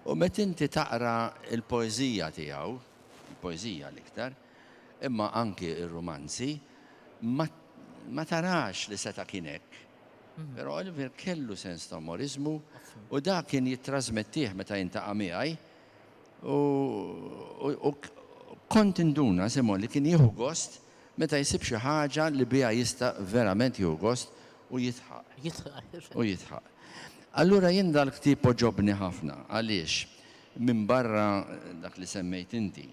U meta inti taqra l-poeżija tiegħu, il-poeżija l-iktar, imma anki r-rumanzi, ma tarax li seta' kien hekk. Però Oliver kellu sens ta' umoriżmu u dak kien jittrażmettih meta jintaqa' miegħi u kont induna, Simon, li kien jieħu gost meta jsib xi ħaġa li biha jista' verament jieħu gost u jidħaq. U jidħaq. Allura jien dal-ktieb għoġobni ħafna. Għaliex? Minbarra dak li semmejt inti.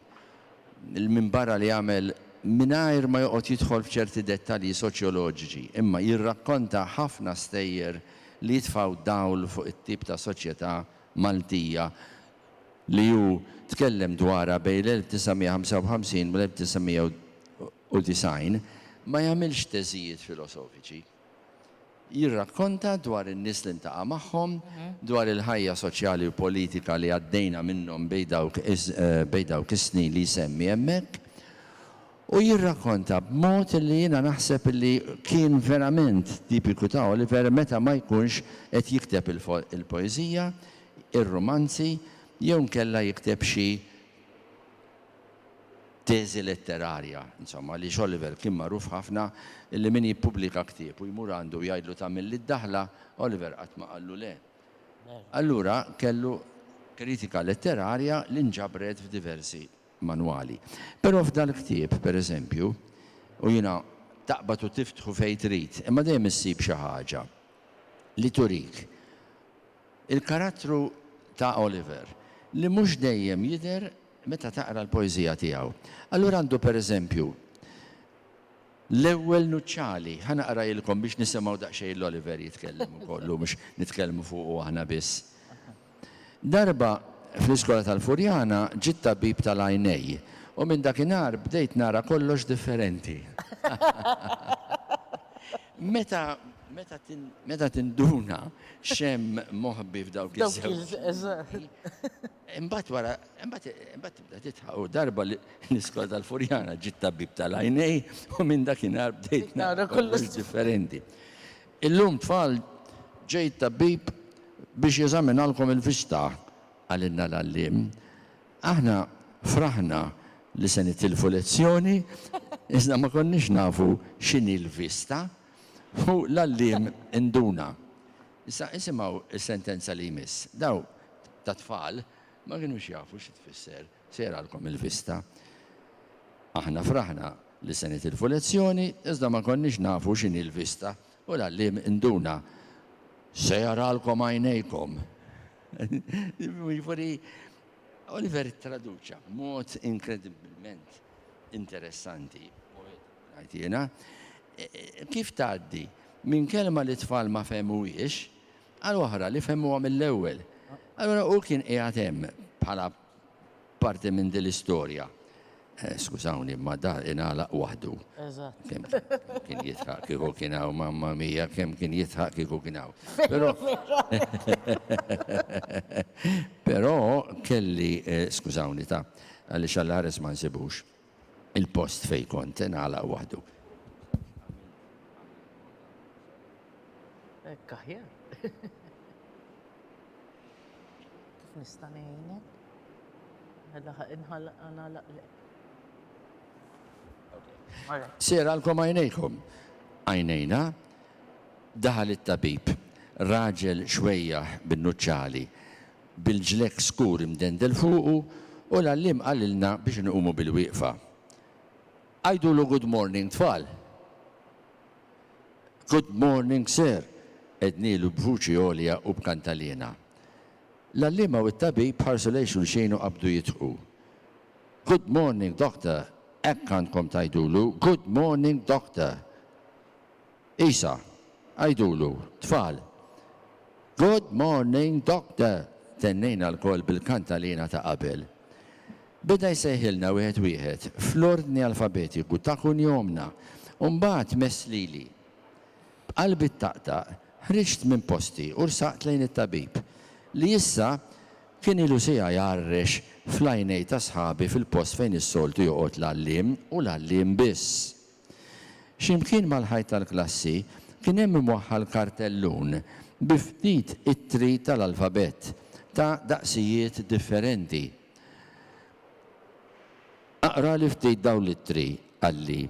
'l minbarra li għamel mingħajr ma joqgħod jidħol f'ċerti dettalji soċjoloġiċi, imma jirrakkonta ħafna stejjer li jitfgħu dawl fuq it-tip ta' soċjetà Maltija li hu tkellem dwarha bejn l-1955 u l-1990, ma jagħmilx teżijiet filosofiċi. Jirrakkonta dwar in-nies li ntaqa' magħhom, dwar il-ħajja soċjali u politika li għaddejna minnhom bejn dawk is-snin li jsemmi hemmhekk. U jirrakkonta b'mod li jiena naħseb li kien verament tipiku ta' Oliver meta ma jkunx qed jikteb il-poeżija, ir-rumanzi jew inkella jikteb xi teżi letterarja, insomma, li x'Oliver kien magħruf ħafna li min jippubblika ktieb u jmur għandu u jgħidlu tagħmilli d-daħla, Oliver qatt ma qallu le. Allura kellu kritika letterarja li nġabret f'diversi manwali. Però f'dal-ktieb, per eżempju, u jiena taqbad u tiftħu fejn trid, imma dejjem issib xi ħaġa li turik il-karattru ta' Oliver li mhux dejjem jidher meta taqra l-poeżija tiegħu. Allura għandu per eżempju, l-ewwel nuċċali, ħa naqrajilkom biex nisimgħu daqsxejn 'l Oliver jitkellem ukoll hu mhux nitkellmu fuqu aħna biss. Darba fl-iskola tal-Furjana ġie t-tabib tal-għajnej u minn dakinhar bdejt nara kollox differenti. Meta meta tinduna x'hemm moħbi f'dawk iż-żewġ Imbagħad wara, imbagħad, imbagħad tibda titħaq u darba li niskola tal-Furjana ġiet tabib tal-għajnej u minn dakinhar bdejt nara kollox differenti. Illum tfal ġej it-tabib biex jeżaminalkom il-vista, qalilna l-għalliem. Aħna fraħna li se nitilfu lezzjoni iżda ma konniex nafu x'inhi l-vista u l-għalliem induna. Issa isimgħu s-sentenza li jmiss. Dawn tat-tfal ma kinux jafu xi tfisser sejralkom il-vista. Aħna fraħna li se nitilfu lezzjoni iżda ma konniex nafu x'inhi l-vista u l-għalliem induna, Sejralkom għajnejkom! Jiġifieri Oliver ttraduċa b'mod inkredibbilment interessanti, poetiku. Ngħid jiena, kif tgħaddi minn kelma li t-tfal ma fehmuhiex għal oħra li fehmuha mill-ewwel? Allura hu kien qiegħed hemm bħala parti minn din l-istorja. Skużawni imma dar ingħalaq waħdu. Eżatt. Kemm kien jidħaq kieku kien hawn mamma mija, kemm kien jidħaq kieku kien hawn. Però Però kelli, skużawni ta, għaliex għall-ħares ma nsibux. il-post fejn kont ingħalaq waħdu. Hekk aħjar. Kif nista' ngħinek? Għadha ħaq inħalaq nagħlaq lek. Sera l-kom għajnejkom. Għajnejna, daħal it-tabib, raġel xwejjaħ bin-nuċċali, bil-ġlekk skur imdendel fuqu u l-għalliem qalilna biex inqumu bilwieqfa. Għidulu good morning tfal! Good morning sir! għednielu b'vuċi għolja u b'kantaliena. L-għalliema u t-tabib ħarsu lejn xulxin u qabdu jidħku. Good morning doctor! Hekk għandkom tgħidulu, good morning doctor! Isa, Għidulu, tfal! Good morning, Doctor! tennejna lkoll bil-kant għalina ta' qabel. Beda jsejħilna wieħed wieħed, fl-ordni alfabetiku ta' kunjomna, u mbagħad mess lili. B'qalbi ttaqtaq, ħriġt minn posti u rsaqt lejn it-tabib, li issa kien ilu siegħa jgħarrex fl-għajnej ta' sħabi fil-post fejn is-soltu joqgħod l-għalliem u l-għalliem biss. X'imkien mal-ħajt tal-klassi kien hemm imwaħħal kartellun bi ftit ittri tal-alfabett ta' daqsijiet differenti. Aqrali ftit dawn l-ittri, qalli,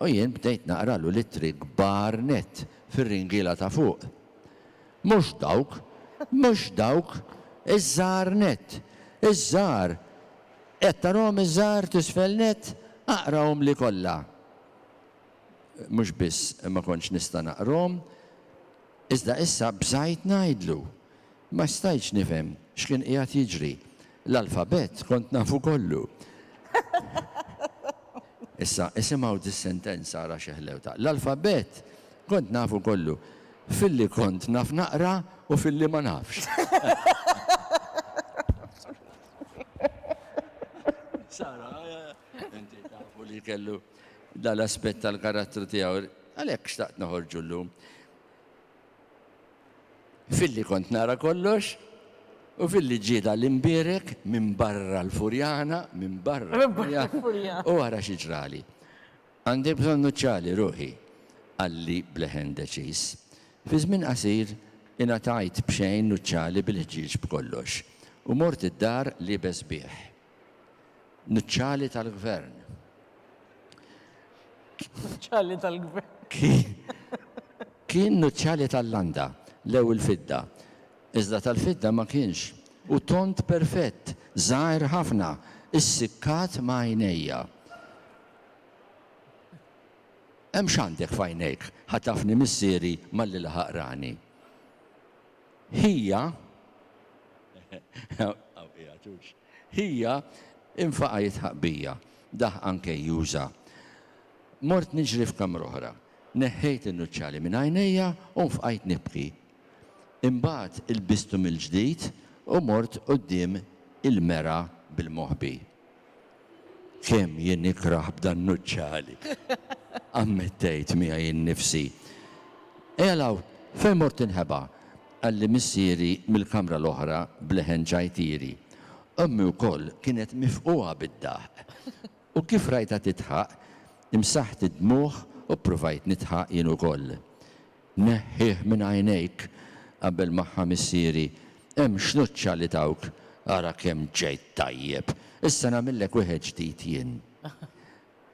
u jien bdejt naqralu l-ittri kbar nett fir-ringiela ta' fuq. Mhux dawk! Mhux dawk! Iż-żgħar nett! Iż-żgħar! Qed tarahom iż-żgħar t'isfel nett? Aqrahomli kollha. Mhux biss ma kontx nista' naqrahom, iżda issa bżajt ngħidlu. Ma stajtx nifhem x'kien qiegħed jiġri. L-alfabett kont nafu kollu. Issa, isimgħu dis-sentenza ara xi ħlewtha. L-alfabett kont nafu kollu. Filli kont naf naqra u filli ma nafx. Sara, inti tafu li kellu dal-aspett tal-karattru tiegħu, għalhekk xtaqt noħorġu llum. Filli kont nara kollox, U fil-li ġida l-imbirek minn barra l-furjana, minn barra l-furjana. U għara xieġrali. Għandi bżonn nuċċali ruħi, qalli b'leħen deċiż. Fi żmien qasir ingħatajt b'xejn nuċċali bil-ħġieġ b'kollox u mort id-dar liebes bih. Nuċċali tal-Gvern. Nuċċali tal-Gvern. Kien nuċċali tal-landa, lew il-fidda. Iżda tal-fidda ma kienx. U tond perfett, żgħir ħafna, issikkat ma' għajnejja. Hemm x'għandek f'għajnejk, ħatafni missieri malli laħaq rani. Ħija, hawn qiegħed hux, ħija infaqa' jidħaq bija, daħqa nkejjuża. Mort niġri f'kamra oħra. Neħħejt in-nuċċali minn għajnejja u nfqajt nibki. Imbagħad ilbistu mill-ġdid u mort quddiem il-mera bil-moħbi. Kemm jien nikrah b'dan nuċċali! ammettejt miegħi innifsi. Ejja 'l hawn, fejn mort tinħeba? qalli missieri mill-kamra l-oħra b'leħen ċajtieri. Ommi wkoll kienet mifqugħa bid-daħq. U kif rajtha tidħaq, imsaħħt id-dmugħ u ppruvajt nidħaq jien ukoll. Neħħih minn għajnejk qabel ma ħa missieri. Hemm xnuċċa li tawk, ara kemm ġejt tajjeb! Issa nagħmillek wieħed ġdid jien.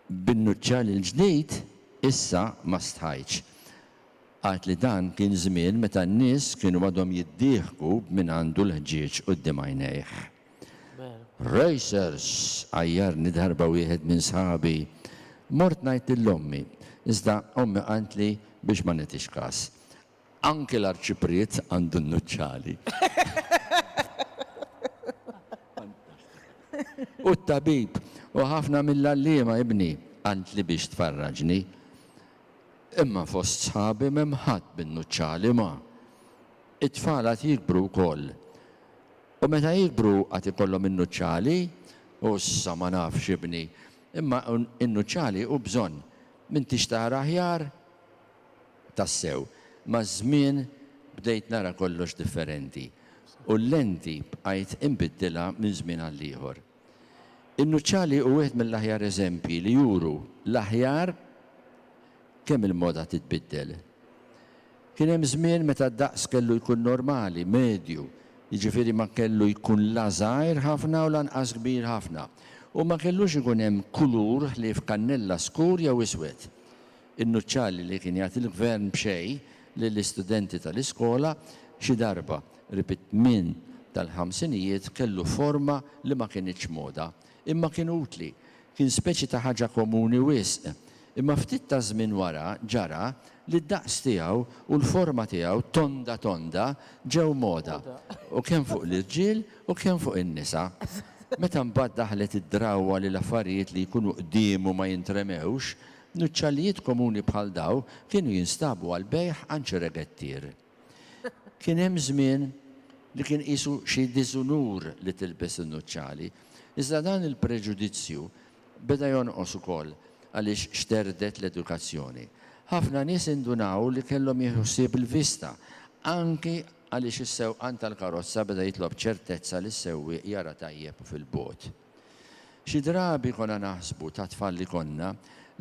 Bin-nuċċal il-ġdid issa ma stħajtx. Għad li dan kien żmien meta n-nies kienu għadhom jiddieħku b'min għandu l-ħġieġ quddiem għajnejh. Racers, Għajjarni darba wieħed minn sħabi. Mort ngħid lil ommi, iżda ommi qaltli biex ma nitix kas. Anki l-Arċipriet għandu n-nuċċali. U t-tabib u ħafna mill-għalliema ibni qaltli biex tfarraġni. Imma fost sħabi m'hemm ħadd bin-nuċċali ma. It-tfal għad jikbru wkoll. U meta jikbru għad ikollhom in-nuċċali, u issa ma nafx ibni, imma in-nuċċali hu bżonn, m'intix tara aħjar? Tassew, maż-żmien bdejt nara kollox differenti, u l-lenti bqajt inbiddilha minn żmien għall-ieħor. In-nuċċali hu wieħed mill-aħjar eżempji li juru l-aħjar kemm il-moda titbiddel. Kien hemm żmien meta d-daqs kellu jkun normali, medju, jiġifieri ma kellu jkun la żgħir ħafna u lanqas kbir ħafna, u ma kellux ikun hemm kulur ħlief kannella skur jew iswed. In-nuċċali li kien jagħti l-Gvern b'xejn lill-istudenti tal-iskola xi darba, qrib it-tmien tal-ħamsinijiet, kellu forma li ma kinitx moda. Imma kien utli. Kien speċi ta' ħaġa komuni wisq. Imma ftit taż-żmien wara ġara li d-daqs tiegħu u l-forma tiegħu tonda tonda ġew moda u kemm fuq l-irġiel u kemm fuq in-nisa. Meta mbagħad daħlet id-drawwa li l-affarijiet li jkunu qdiemu ma jintremewx, Nuċċallijiet komuni bħal dawn kienu jinstabu għall-bejgħ għand xi regettier. Kien hemm żmien li kien qisu xi diżunur li tilbes in-nuċċali, iżda dan il-preġudizzju beda jonqos ukoll għaliex xterdet l-edukazzjoni. Ħafna nies indunaw li kellhom jieħdu ħsieb il-vista, anki għaliex is-sewqan tal-karozza beda jitlob ċertezza li s-sewwieq jara tajjeb fil-bogħod. Xi drabi konna naħsbu, ta' tfal li konna,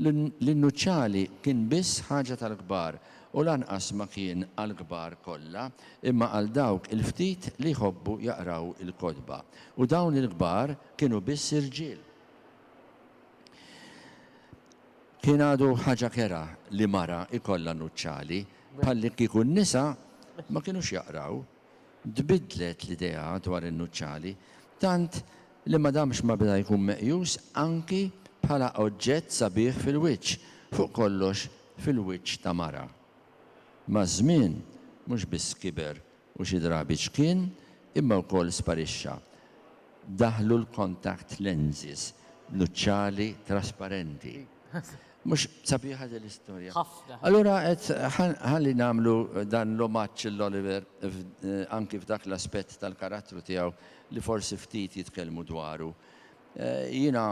li n-nuċċali kien biss ħaġa tal-kbar u lanqas ma kien għall-kbar kollha imma għal dawk il-ftit li jħobbu jaqraw il-kotba. U dawn il-kbar kienu biss irġiel. Kien għadu ħaġa kerha li mara jkollha nuċċali, bħallikieku n-nisa ma kinux jaqraw Tbiddlet l-idea dwar in-nuċċali tant li ma damx ma beda jkun meqjus anki bħala oġġett sabiħ fil-wiċċ, fuq kollox fil-wiċċ ta' mara. Maż-żmien, mhux biss kiber u xi drabi ċkien, imma wkoll sparixxa. Daħlu l-contact lenses, nuċċali trasparenti. Mhux sabiħa din l-istorja? Ħafna. Allura qed ħalli nagħmlu dan l-omaġġ lil Oliver anki f'dak l-aspett tal-karattru tiegħu li forsi ftit jitkellmu dwaru. Jiena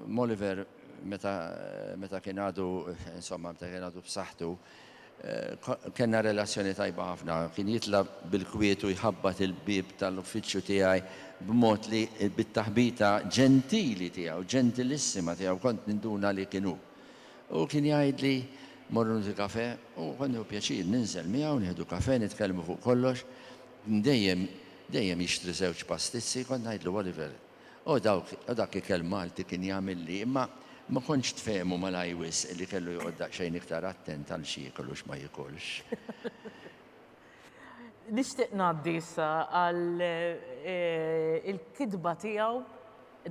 m'Oliver meta kien għadu insomma meta kien għadu b'saħħtu Kellna relazzjoni tajba ħafna. Kien jitla' bil-kwietu jħabbat il-bieb tal-uffiċċju tiegħi b'mod li bit-taħbita ġentili tiegħu, ġentilissima tiegħu kont ninduna li kien hu. U kien jgħidli, Morru nieħdu kafè. U kont nieħu pjaċir ninżel miegħu, nieħdu kafè, nitkellmu fuq kollox. Kien dejjem, dejjem jixtri żewġ pastizzi. Kont ngħidlu, Oliver, O dawk, o dak ikel Malti kien jagħmilli, imma ma kontx tfehmu malajr wisq li kellu joqgħod daqsxejn iktar attent għal x'jiekol u x'ma jikolx. Nixtieq ngħaddi issa għal il-kitba tiegħu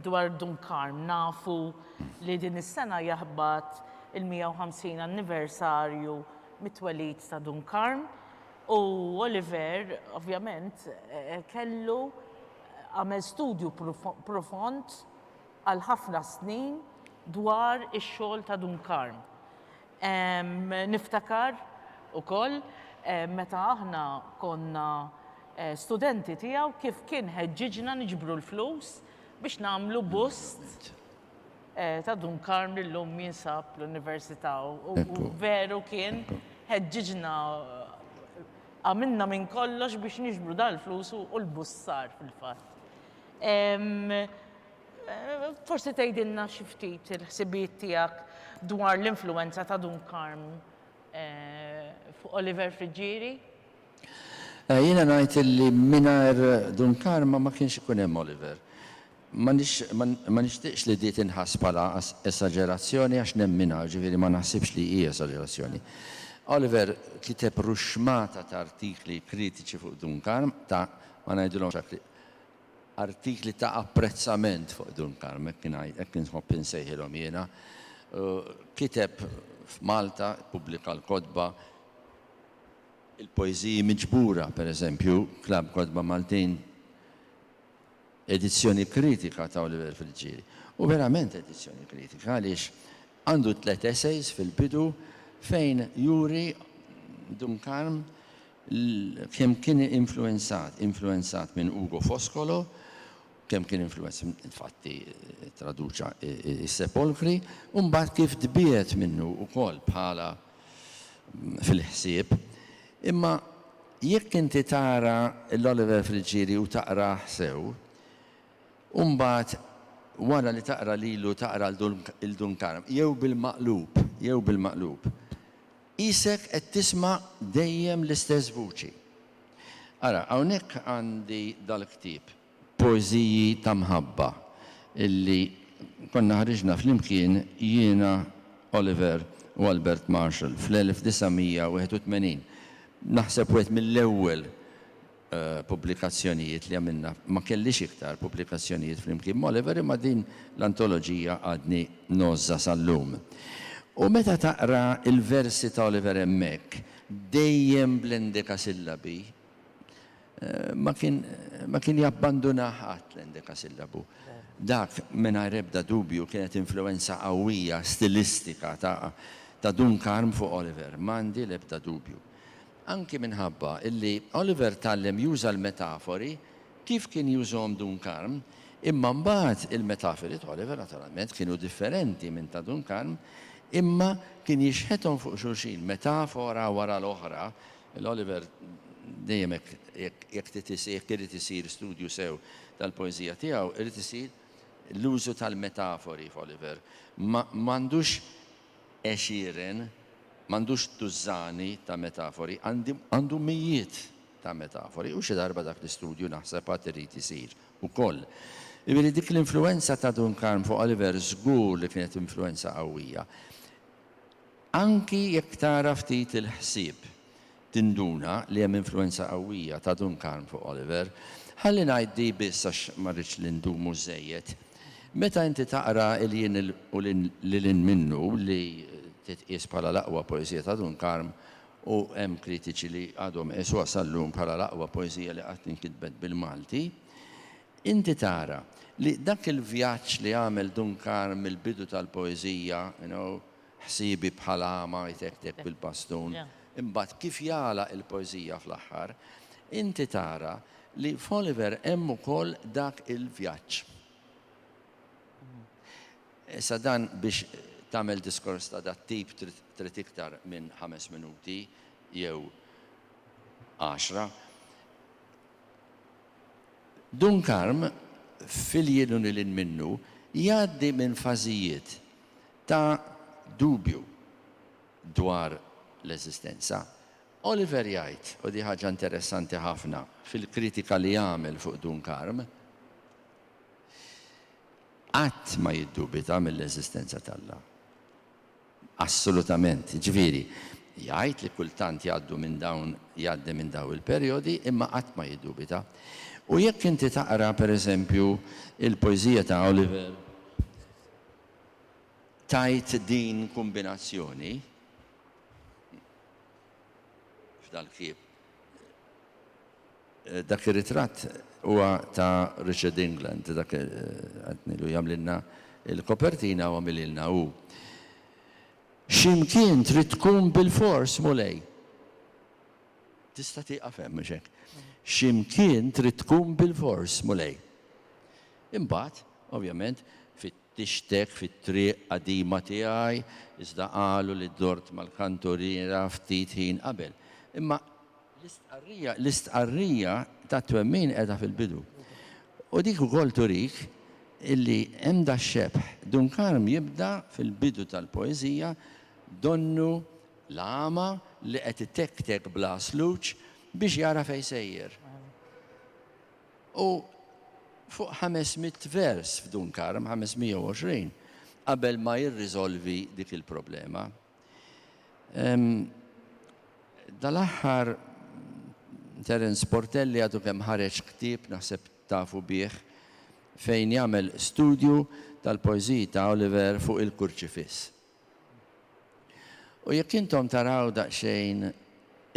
dwar Dun Karm. Nafu li din is-sena jaħbat il-150 anniversarju mit-twelid ta' Dun Karm u Oliver ovvjament kellu Għamel studju profond għal ħafna snin dwar ix-xogħol ta' Dun Karm. Niftakar ukoll meta aħna konna studenti tiegħu kif kien ħeġġiġna niġbru l-flus biex nagħmlu bust ta' Dun Karm li llum jinsab l-Università u veru kien ħeġġiġna Għamilna minn kollox biex niġbru dal-flus u l-bussar fil-fatt. Forsi tgħidilna xi ftit il-ħsibijiet tiegħek dwar l-influwenza ta' Dun Karm fuq Oliver Friggieri? Jiena ngħid illi mingħajr Dun Karm ma kienx ikun hemm Oliver. Ma nixtieqx li di tinħass bħala esaġerazzjoni għax nemminha, jiġifieri ma naħsibx li hi esaġerazzjoni. Oliver kiteb ruxxmata ta' artikli kritiċi fuq Dunkarm, ta' ma ngħidilhomx hekk li artikli ta' apprezzament fuq Dunkarm, hekk inħobb insejħilhom jiena. Kiteb f'Malta, ippubblika l-kotba, il-poeżiji miġbura, pereżempju, Klabb Kotba Maltin, Edizzjoni kritika ta' Oliver Friggieri. U verament edizzjoni kritika għaliex għandu tliet essays fil-bidu fejn juri Duncan kemm kien influwenzat, influwenzat minn Ugo Foscolo, kemm kien influwenz, infatti ttraduċa s-Sepolkri, u mbagħad kif tbiegħed minnu wkoll bħala fil-ħsieb. Imma jekk inti tara l-Oliver Friggieri u taqrah sew, u mbagħad wara li taqra lilu taqra 'l Dun Karm, jew bil-maqlub, jew bil-maqlub, qisek qed tisma' dejjem l-istess vuċi. Ara, hawnhekk għandi dal-ktieb. poeżiji ta' mħabba illi konna ħriġna flimkien jiena, Oliver u Albert Marshall fl-1981. Naħseb wieħed mill-ewwel pubblikazzjonijiet li għamilna. Ma kellix iktar pubblikazzjonijiet flimkien m'Oliver imma din l-antoloġija għadni ngħożżha sal-lum. U meta taqra l-versi ta' Oliver hemmhekk, dejjem bl-endekasillabi, ma kien ma kien jabbandunah qatt l-endekasillabu. Dak, mingħajr ebda dubju, kienet influwenza qawwija stilistika ta' ta' Dun Karm fuq Oliver, m'għandi l-ebda dubju. Anki minħabba illi Oliver tgħallem juża l-metafori kif kien jużhom Dun Karm, imma mbagħad il-metafiri ta' Oliver naturalment kienu differenti minn ta' Dun Karm, imma kien jixħethom fuq xulxin metafora wara l-oħra L-Oliver dejjem hekk, jekk jekk trid isir jekk irid isir studju sew tal-poeżija tiegħu, irid isir l-użu tal-metafori f'Oliver. Ma m'għandux għexieren, m'għandux tużżani ta' metafori, għandi għandu mijiet ta' metafori u xi darba dak l-istudju naħseb għad irid isir ukoll. Jiġifieri dik l-influwenza ta' Dun Karm fuq Oliver żgur li kienet influwenza qawwija. Anki jekk tara ftit il-ħsieb, tinduna li hemm influwenza qawwija ta' Dunkarm fuq Oliver. Ħalli ngħid di biss għax ma rridx li ndumu żżejjed. Meta inti taqra 'Il Jien u Lil Hinn Minnu' li titqies bħala l-aqwa poeżija ta' Dunkarm u hemm kritiċi li għadhom iqisuha sal-lum bħala l-aqwa poeżija li qatt inkitbet bil-Malti, inti tara li dak il-vjaġġ li għamel Dunkarm mill-bidu tal-poeżija, you know, Ħsiebi bħal għama jtektek bil-bastun. Imbagħad kif jagħlaq il-poeżija fl-aħħar, inti tara li f'Oliver hemm ukoll dak il-vjaġġ. Issa dan biex tagħmel diskors ta' dat-tip trid iktar minn ħames minuti jew għaxra. Dun Karm, f'Iljieluni Lil Minnu, jgħaddi minn fażijiet ta' dubju dwar l-eżistenza. Oliver jgħid, u di ħaġa interessanti ħafna fil-kritika li għamel fuq Dunkarm, Qatt ma jiddubita mill-eżistenza t'Alla. Assolutament. Jiġifieri, jgħid li kultant jgħaddu minn dawn jgħaddi minn dawn il-perjodi, imma qatt ma jiddubita. U jekk inti taqra, per eżempju, il-poeżija ta' Oliver, tgħid din kombinazzjoni f'dal-ktieb. Dak ir-ritratt huwa ta' Richard England, dak qed ngħidu jagħmlilna l-kopertina u għamililna hu. Xi mkien trid tkun bilfors, Mulej. Tista' tieqaf hemm, mhux hekk? Xi mkien trid tkun bilfors, Mulej. Imbagħad, ovvjament, fittixtek fit-triq qadima tiegħi, iżda qalu li dort mal-kanturiera ftit ħin qabel. Imma l-istqarrija, l-istqarrija tat-twemmin qiegħda fil-bidu. U dik ukoll turik illi hemm dax-xebh. Dun Karm jibda fil-bidu tal-poeżija donnu l-għama li qed itektek bla sluġ biex jara fejn sejjer. U fuq ħames mitt vers f'Dunkarm, 520, qabel ma jirriżolvi dik il-problema. Dal-aħħar Terence Portelli għadu kemm ħareġ ktieb, naħseb tafu bih, fejn jagħmel studju tal-poeżiji ta' Oliver fuq il-Kurċifiss. U jekk intom taraw daqsxejn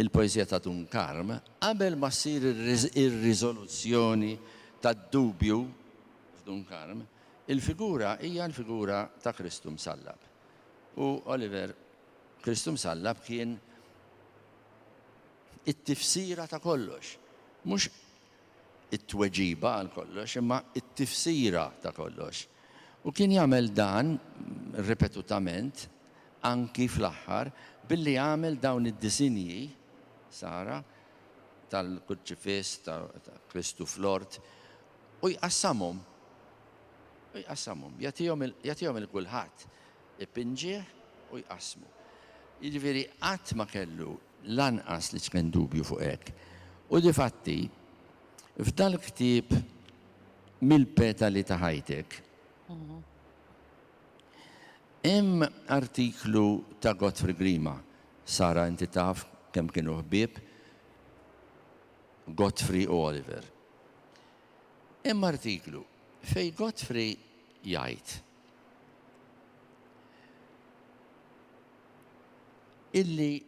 il-poeżija ta' Dun Karm, qabel ma ssir ir-riżoluzzjoni tad-dubju f'Dun Karm, il-figura hija l-figura ta' Kristu Msallab. U Oliver, Kristu Msallab kien it-tifsira ta' kollox. Mhux it-tweġiba għal kollox, imma t-tifsira ta' kollox. U kien jagħmel dan ripetutament, anki fl-aħħar, billi għamel dawn id-disinji, sara, tal-Kurċifiss, ta' Kristu fl-ort, u jqassamhom. U jqassamhom, jagħtihom lil kulħadd, ipinġih u jqassmu. Jiġifieri qatt ma kellu Lanqas li tqenn dubju fuq hekk. U difatti, f'dal-ktieb Mill-petali ta' ħajtek, hemm artiklu ta' Godfrey Grima. Sara, inti taf kemm kienu ħbieb Godfrey u Oliver. Hemm artiklu fejn Godfrey jgħid. illi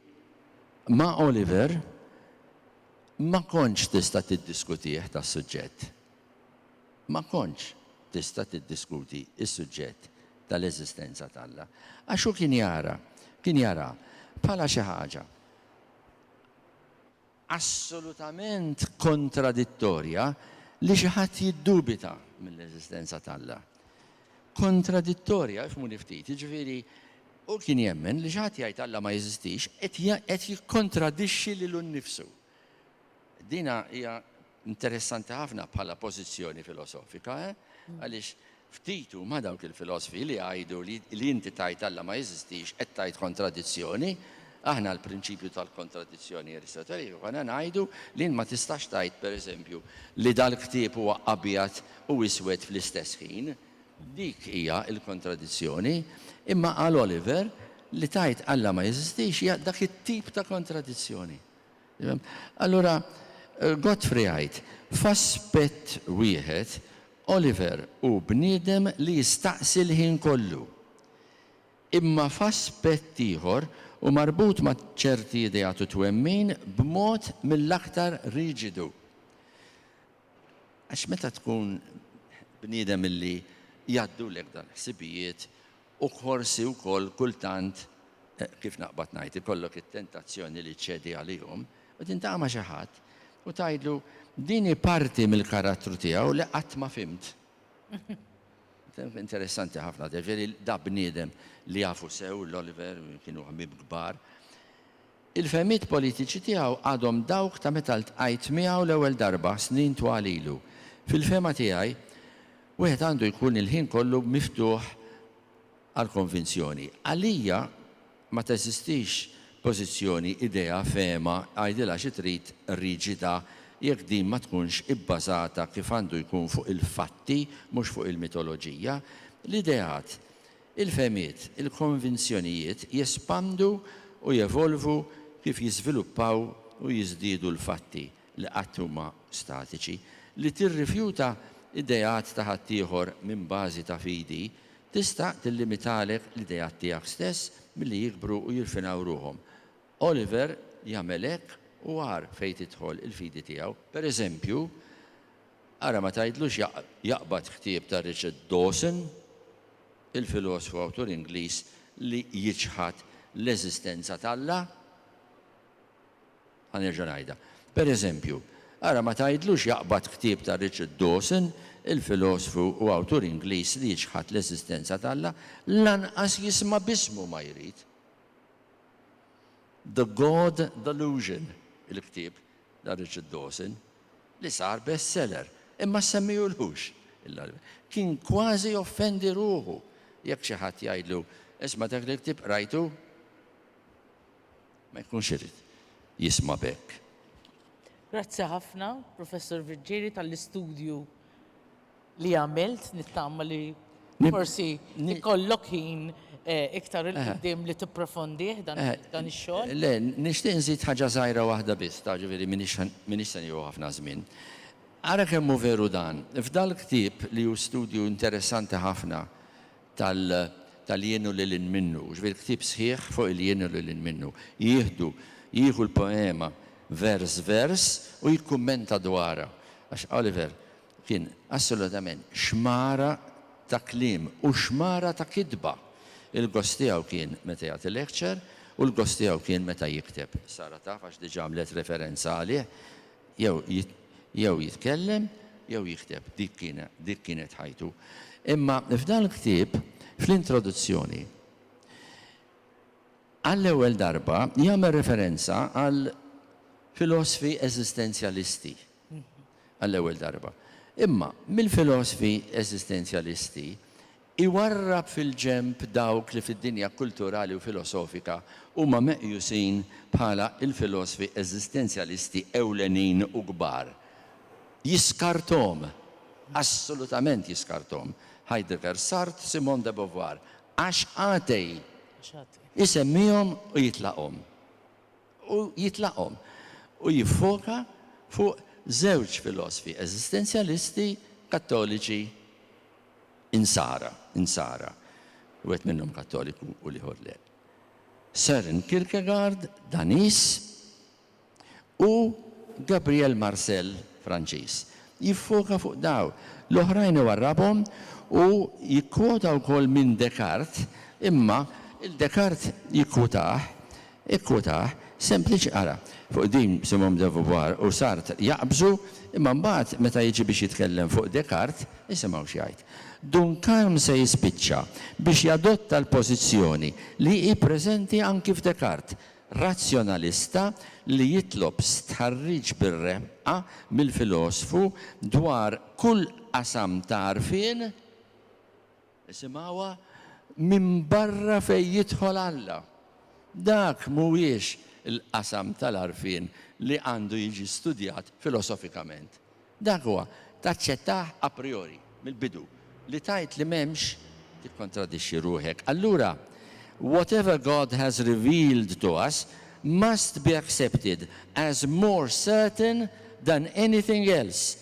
ma' Oliver ma kontx tista' tiddiskutih tas-suġġett. Ma kontx tista' tiddiskuti s-suġġett tal-eżistenza t'Alla. Għax hu kien jara, kien jaraha bħala xi ħaġa assolutament kontradittorja li xi ħadd jiddubita mill-eżistenza t'Alla. Kontradittorja, ifhmuni ftit, jiġifieri hu kien jemmen li xi ħadd jgħid Alla ma jeżistix qed jikkontradixxi lilu nnifsu. Din hija Interessanti ħafna bħala pożizzjoni filosofika, eh? Għaliex ftit huma dawk il-filosfi li jgħidu li li inti tgħid Alla ma jeżistix qed tgħid kontradizzjoni. Aħna l-prinċipju tal-kontradizzjoni Aristoteliku konna ngħidu li int ma tistax tgħid, per eżempju, li dal-ktieb huwa abjad u iswed fl-istess ħin. Dik hija l-kontradizzjoni. Imma għal Oliver, li tgħid Alla ma jeżistix hija dak it-tip ta' kontradizzjoni. Allura, Godfrey jgħid, F'aspett wieħed, Oliver hu bniedem li jistaqsi l-ħin kollu. Imma f'aspett ieħor, hu marbut ma' ċerti ideat u twemmin b'mod mill-aktar riġidu. Għax meta tkun bniedem li jgħaddulek dawn il-ħsibijiet U forsi wkoll kultant, kif naqbad ngħid, ikollok it-tentazzjoni li ċċedi għalihom u tintaqa' ma' xi ħadd u tgħidlu, din hi parti mill-karattru tiegħu li qatt ma fhimt. Interessanti ħafna, jiġifieri da bniedem li jafu sew l-Oliver, kienu ħbieb kbar, Il-fehmiet politiċi tiegħu għadhom dawk ta' meta ltqajt miegħu l-ewwel darba snin twal ilu. Fil-fehma tiegħi, wieħed għandu jkun il-ħin kollu miftuħ għall-konvinzjoni. Għalija ma teżistix pożizzjoni, idea, fehma, għidilha xi trid, riġida jekk din ma tkunx ibbażata kif għandu jkun fuq il-fatti mhux fuq il-mitoloġija. L-ideat Il-fehmiet, il-konvinzjonijiet jespandu u jevolvu kif jiżviluppaw u jiżdiedu l-fatti li qatt huma statiċi. Li tirrifjuta ideat ta' ħaddieħor minn bażi ta' fidi tista' tillimitalek l-ideat tiegħek stess milli jikbru u jirfinaw ruħhom. Oliver jagħmel hekk u agħar fejn tidħol il-fidi tiegħu. Pereżempju, Ara ma tgħidlux jaqbad ktieb ta' Richard Dawson, il-filosofu awtur Ingliż li jiċħad l-eżistenza t'Alla. Ħa nerġa' ngħidha. Per eżempju, ara ma tgħidlux jaqbad ktieb ta' Richard Dawson, il-filosofu u awtur Ingliż li jiċħad l-eżistenza t'Alla, lanqas jisma' b'ismu ma jrid. The God Delusion, il-ktieb, Dan Richard Dawson, li sar bestseller, imma ssemmihulux il-darbiet, kien kważi joffendi ruħu jekk xi ħadd jgħidlu, Isma' dak il-ktieb qrajtu? Ma jkunx irid jisma' b'hekk. Grazzi ħafna, Professor Virgili, tal-istudju li għamilt, nittama li forsi ikollok ħin iktar 'il quddiem li tipprofondih dan ix-xogħol. Le, nixtieq nżid ħaġa żgħira waħda biss, taf ġifieri m'iniex se nieħu ħafna żmien. Ara kemm hu veru dan, f'dal-ktieb li hu studju interessanti ħafna tal-jien u lil hinn minnu, ġifieri ktieb sħiħ fuq il-jien u lil hinn minnu, jieħdu, jieħu l-poema vers vers u jikkummenta dwarha, għax Oliver Kien assolutament xmara ta' kliem u xmara ta' kitba. Il-gost tiegħu kien meta jagħti lecture u l-gost tiegħu kien meta jikteb. Sara taf għax diġa għamlet referenza għalih. Jew jew jitkellem jew jikteb. Dik dik kienet ħajtu. Imma f'dan il-ktieb, fl-introduzzjoni, għall-ewwel darba jagħmel referenza għal filosfi eżistenzjalisti. għall-ewwel darba. Imma, mill-filosfi eżistenzjalisti, iwarrab fil-ġenb dawk li fid-dinja kulturali u filosofika huma meqjusin bħala l-filosfi eżistenzjalisti ewlenin u kbar. Jiskarthom! Assolutament jiskarthom! Heidegger, Sartre, Simone de Beauvoir. Għax għatej! Isemmihom u jitlaqhom. u jitlaqhom, u jiffoka fuq żewġ filosfi eżistenzjalisti Kattoliċi Insara, Insara, wieħed minnhom Kattoliku u l-ieħor le, Søren Kierkegaard, Daniż, u Gabriel Marcel, Franċiż. Jiffoka fuq dawn. L-oħrajn iwarrabhom u jikkwota wkoll minn Descartes, imma 'il Descartes jikkwotah Ikkwotah, Sempliċi qara, Fuq din Simone de Beauvoir u Sartre jaqbżu, imma mbagħad meta jiġi biex jitkellem fuq Descartes, isimgħu x'jgħid. Duncan se jispiċċa biex jadotta l-pożizzjoni li hi preżenti anki f'Descartes, razzjonalista li jitlob stħarriġ bir-reqqa mill-filosfu dwar kull qasam ta' għarfien, Isimgħuha minbarra fejn jidħol Alla. Dak mhuwiex il-qasam tal-għarfien li għandu jiġi studjat filosofikament. Dak huwa, taċċettah a priori, mill-bidu. Li tgħid li m'hemmx, tikkontradixxi ruħek. Allura, whatever God has revealed to us must be accepted as more certain than anything else,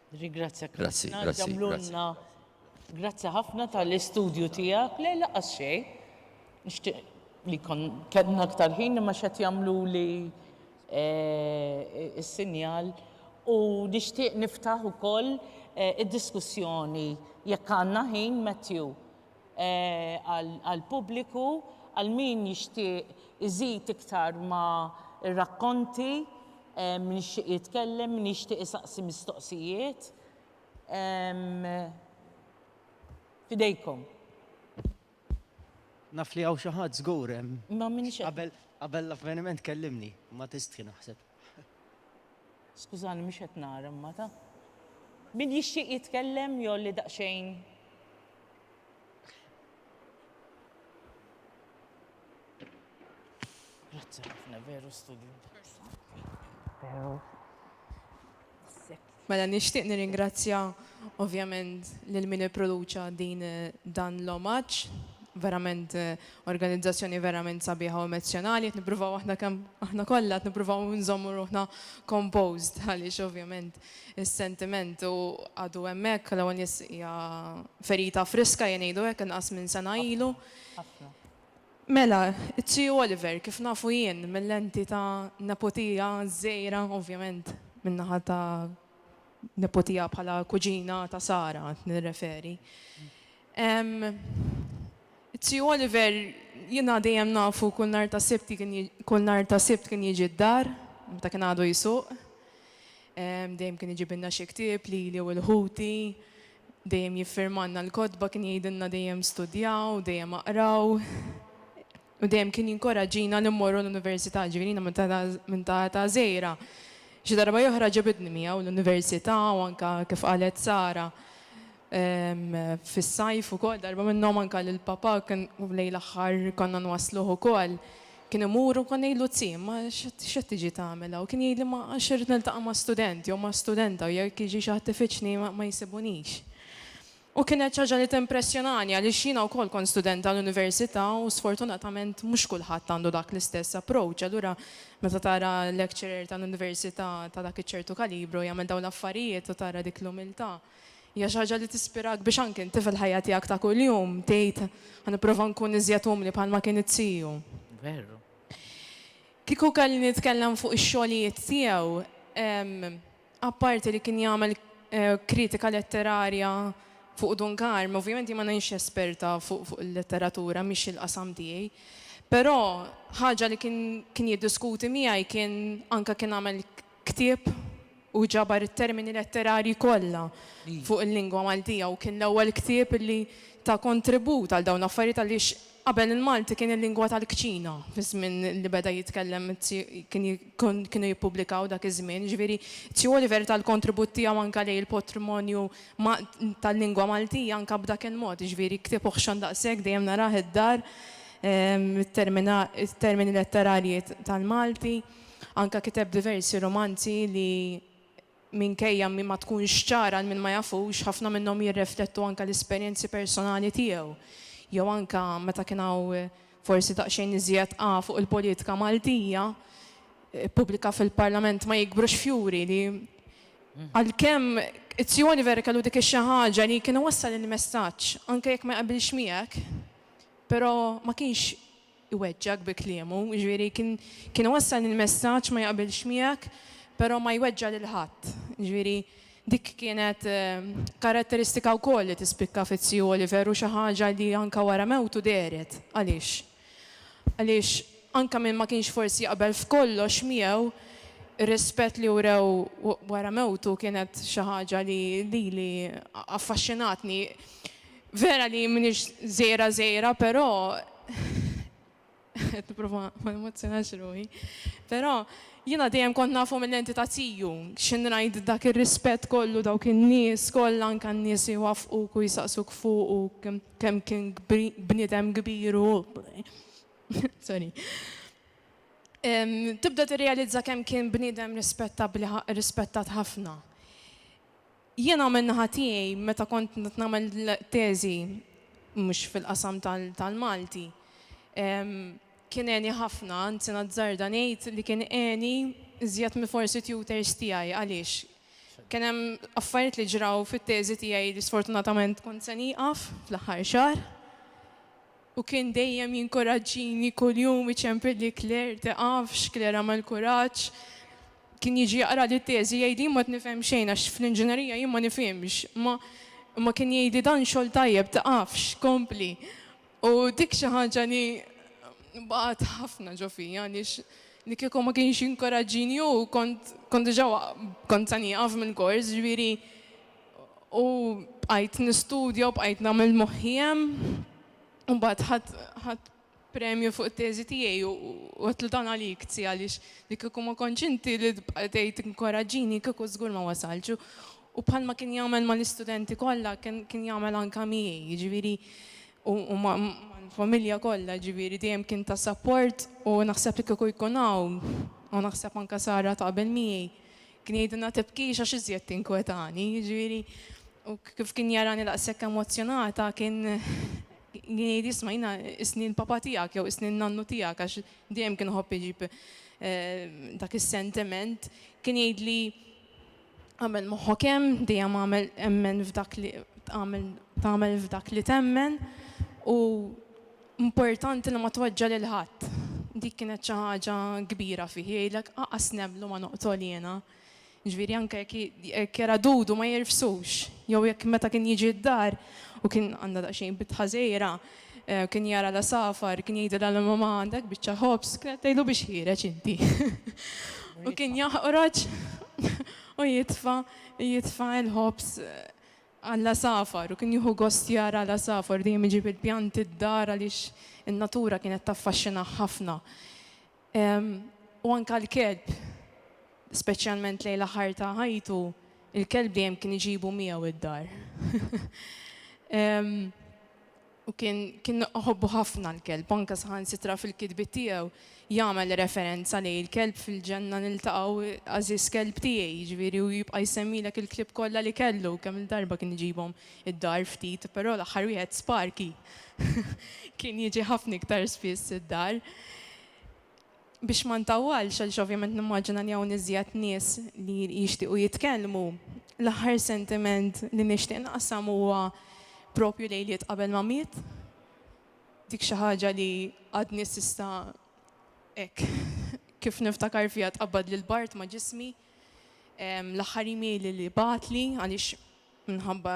Rigrazzjak. Grazzi, grazzi. Għamlulna. Grazzi ħafna tal-istudju tiegħek. Le laqas xejn. Nixtieq li kon kellna aktar ħin imma x'qed jagħmlu li eh, is-sinjal u nixtieq niftaħ ukoll eh, id-diskussjoni jekk għandna ħin Matthew għall-pubbliku, għal min jixtieq iżid iktar ma' r-rakkonti, min jixtieq jitkellem, min jixtieq isaqsi mistoqsijiet. F'idejkom. Naf li hawn xi ħadd żgur hemm. Ma minix qed. Qabel l-avveniment kellimni, ma tistħi naħseb. Skużani mhux qed nara imma ta. Min jixtieq jitkellem jew li daqsxejn. Grazie ħafna, veru studju Mela nixtieq nirringrazzja ovvjament lil min ipproduċa din dan l-omaġġ, verament eh, organizzazzjoni verament sabiħa u emozjonali, qed nippruvaw aħna kemm aħna kollha qed nippruvaw nżommu ruħna composed għaliex ovvjament Is-sentiment u għadu hemmhekk, l-ewwel nies hija ferita friska ejja ngħidu hekk, inqas minn sena ilu. Mela, it-Tiju Oliver, kif nafu jien, mil-lenti ta' nepotija żgħira, ovvjament, min-naħa ta' nepotija bħala kuġina ta' Sara qed nirreferi. It-Tiju Oliver jiena dejjem nafu kull nhar tas-Sibt kien kull nhar tas-Sibt kien jiġi d-dar meta kien għadu jsuq. Dejjem kien iġibilna xi ktieb, lili u lil ħuti. Dejjem jiffirmalna l-kotba, kien jgħidilna dejjem studjaw, dejjem aqraw. U dejjem kien jinkoraġġina li mmorru l-università, ġifieri jiena minn ta' età żgħira. Xi darba oħra ġabidni miegħu l-università u anke kif qalet Sara, Fis-sajf ukoll darba minnhom anke lil papà kien lejn l-aħħar konna nwassluh ukoll, kien imur u kont ngħidlu Zii, imma x'qed tiġi tagħmel hawn? Kien jgħidli ma għax irrid niltaqa' ma' student jew ma' studenta u jekk jiġi xi ħadd ifittxni ma jsibunix. U kienet xi ħaġa li timpressjonani għaliex jiena wkoll kont student tal-università u sfortunatament mhux kulħadd għandu dak l-istess approach, allura meta tara lecturer tal-università ta' dak iċ-ċertu kalibru jagħmel dawn l-affarijiet u tara dik l-umiltà. Hija xi ħaġa li tispirak biex anki inti fil-ħajja tiegħek ta' kuljum tgħid, Ħa nipprova nkun iżjed umli bħalma kien it-tiju. Veru. Kieku kelli nitkellem fuq ix-xogħlijiet tiegħu, apparti li kien jagħmel kritika letterarja fuq Dun Karm, ovvjament jien ma ngħinx esperta fuq il-letteratura, mhix il-qasam tiegħi, però ħaġa li kien jiddiskuti miegħi kien anke kien għamel Ktieb u ġabar it-termini letterarji kollha fuq il-lingwa Maltija u kien l-ewwel ktieb li ta kontribut għal dawn l-affarijiet għaliex qabel il-Malti kien il-lingwa tal-kċina fiż-żmien li beda jitkellem kienu jippubblikaw dak iż-żmien. Jiġifieri Zio Oliver ta l-kontribut tiegħu anke lejn il-potrimonju tal-lingwa Maltija anke b'dak il-mod. Jiġifieri ktieb oħxon daqshekk dejjem narah id-dar it-termini letterarji tal-Malti. Anke kiteb diversi rumanzi li, minkejja min ma tkunx ċara għal min ma jafux, ħafna minnhom jirreflettu anke l-esperjenzi personali tiegħu, jew anke meta kien hawn forsi daqsxejn iżjed qagħa fuq il-politika Maltija, ippubblika fil-Parlament Ma jikbrux fjuri li, għalkemm Izzju Oliver kellu dik ix-xi ħaġa li kien iwassal il-messaġġ anke jekk ma jaqbilx miegħek, però ma kienx iweġġgħek bi kliemu, jiġifieri kien kien iwassal il-messaġġ ma jaqbilx miegħek però ma jweġġa' lil ħadd. Jiġifieri dik kienet karatteristika wkoll li tispikka fiz-Ziju Oliver u xi ħaġa li anke wara mewtu dehret. Għaliex? Għaliex anke min ma kienx forsi jaqbel f'kollox miegħu, ir-rispett li wrew wara mewtu kienet xi ħaġa li lili affaxxinatni. Vera li m'iniex żgħira żgħira però, qed nipprova ma nemozjonax ruħi, però jiena dejjem kont nafu mill-lenti ta' tiju, xi ngħid dak ir-rispett kollu, dawk in-nies kollha anke n-nies li jwaffquk u jsaqsuk fuqu u kemm kien bniedem kbir u sorry. Tibda tirrealizza kemm kien bniedem rispettabbli rispettat ħafna. Jiena min-naħa tiegħi meta kont nagħmel teżi mhux fil-qasam tal-Malti kien għeni ħafna, anzi nazzarda ngħid li kien għeni iżjed minn forsi tutors tiegħi għaliex kien hemm affarijiet li ġraw fit-teżi tiegħi li sfortunatament kont se nieqaf fl-aħħar xahar. U kien dejjem jinkoraġġini, kuljum iċempilli Claire, tiqafx, Claire agħmel kuraġġ. Kien jiġi jaqrali t-teżi, jgħidli jien ma qed nifhem xejn għax fl-inġinerija jien ma nifhimx, imma imma kien jgħidli dan xogħol tajjeb, tiqafx, kompli. U dik xi ħaġa li baqgħet ħafna ġo fija għaliex li kieku ma kienx jinkoraġġini hu kont kont diġà kont se nieqaf mill-kors, ġifieri, U bqajt nistudja u bqajt nagħmel moħħi hemm. U mbagħad ħadd ħadd premju fuq it-teżi tiegħi u għedtlu dan għalik zzi għaliex li kieku ma kontx inti li tbqa' tgħid inkoraġġini kieku żgur ma wasaltx. U bħalma kien jagħmel mal-istudenti kollha kien jagħmel anke miegħi, jiġifieri u mal-familja kollha, jiġifieri dejjem kien ta' sapport u naħseb li kieku jkun hawn, u naħseb anke Sara taqbel miegħi, Kien jgħidilna tibkix għax iżjed tinkwetani, jiġifieri u kif kien jarani daqshekk emozzjonata kien kien jgħid jisma' jiena isni l-papa tiegħek jew isni n-nannu tiegħek għax dejjem kien iħobb iġib eh, dak is-sentiment. Kien jgħidli għamel moħħok hemm, dejjem għamel emmen f'dak li tagħmel f'dak li temmen u Importanti li ma tweġġa' lil ħadd. Dik kienet xi ħaġa kbira fih, jgħidlek aqas nemmlu ma noqtol jiena. Ġifieri anke jekk jekk era dudu ma jirfsux, jew jekk meta kien jiġi d-dar u kien għandha daqsxejn bitħa żgħira, kien jara l-għasafar, kien jgħidilha l-mamà għandek biċċa ħobż, kienet tgħidlu biex ħiereġ inti. U kien jaħqroġ u jitfa' jitfa' l-ħobż. għall-għasafar u kien jieħu gost jara l-għasafar dejjem iġib il-pjanti d-dar għaliex in-natura kienet taffaxxinah ħafna. U anke l-kelb, speċjalment lejn l-aħħar ta' ħajtu, il-kelb dejjem kien iġibu miegħu d-dar. u kien kien iħobbu ħafna l-kelb, anke saħansitra fil-kitbiet tiegħu jagħmel referenza lejn il-kelb fil-ġenna niltaqgħu għażiż kelb tiegħi, jiġifieri u jibqa' jsemmilek il-klieb kollha li kellu, kemm il-darba kien iġibhom id-dar ftit, però l-aħħar wieħed Sparky kien jiġi ħafna iktar spiss id-dar. Biex ma ntawwalx għaliex ovvjament nimmaġina li hawn iżjed nies li jixtiequ jitkellmu, l-aħħar sentiment li nixtieq naqsam huwa proprju lejliet qabel ma miet. Dik xi ħaġa li għadni s'issa hekk kif niftakar fiha tqabbadli l-bard ma' ġismi. L-aħħar email li bagħatli għaliex Minħabba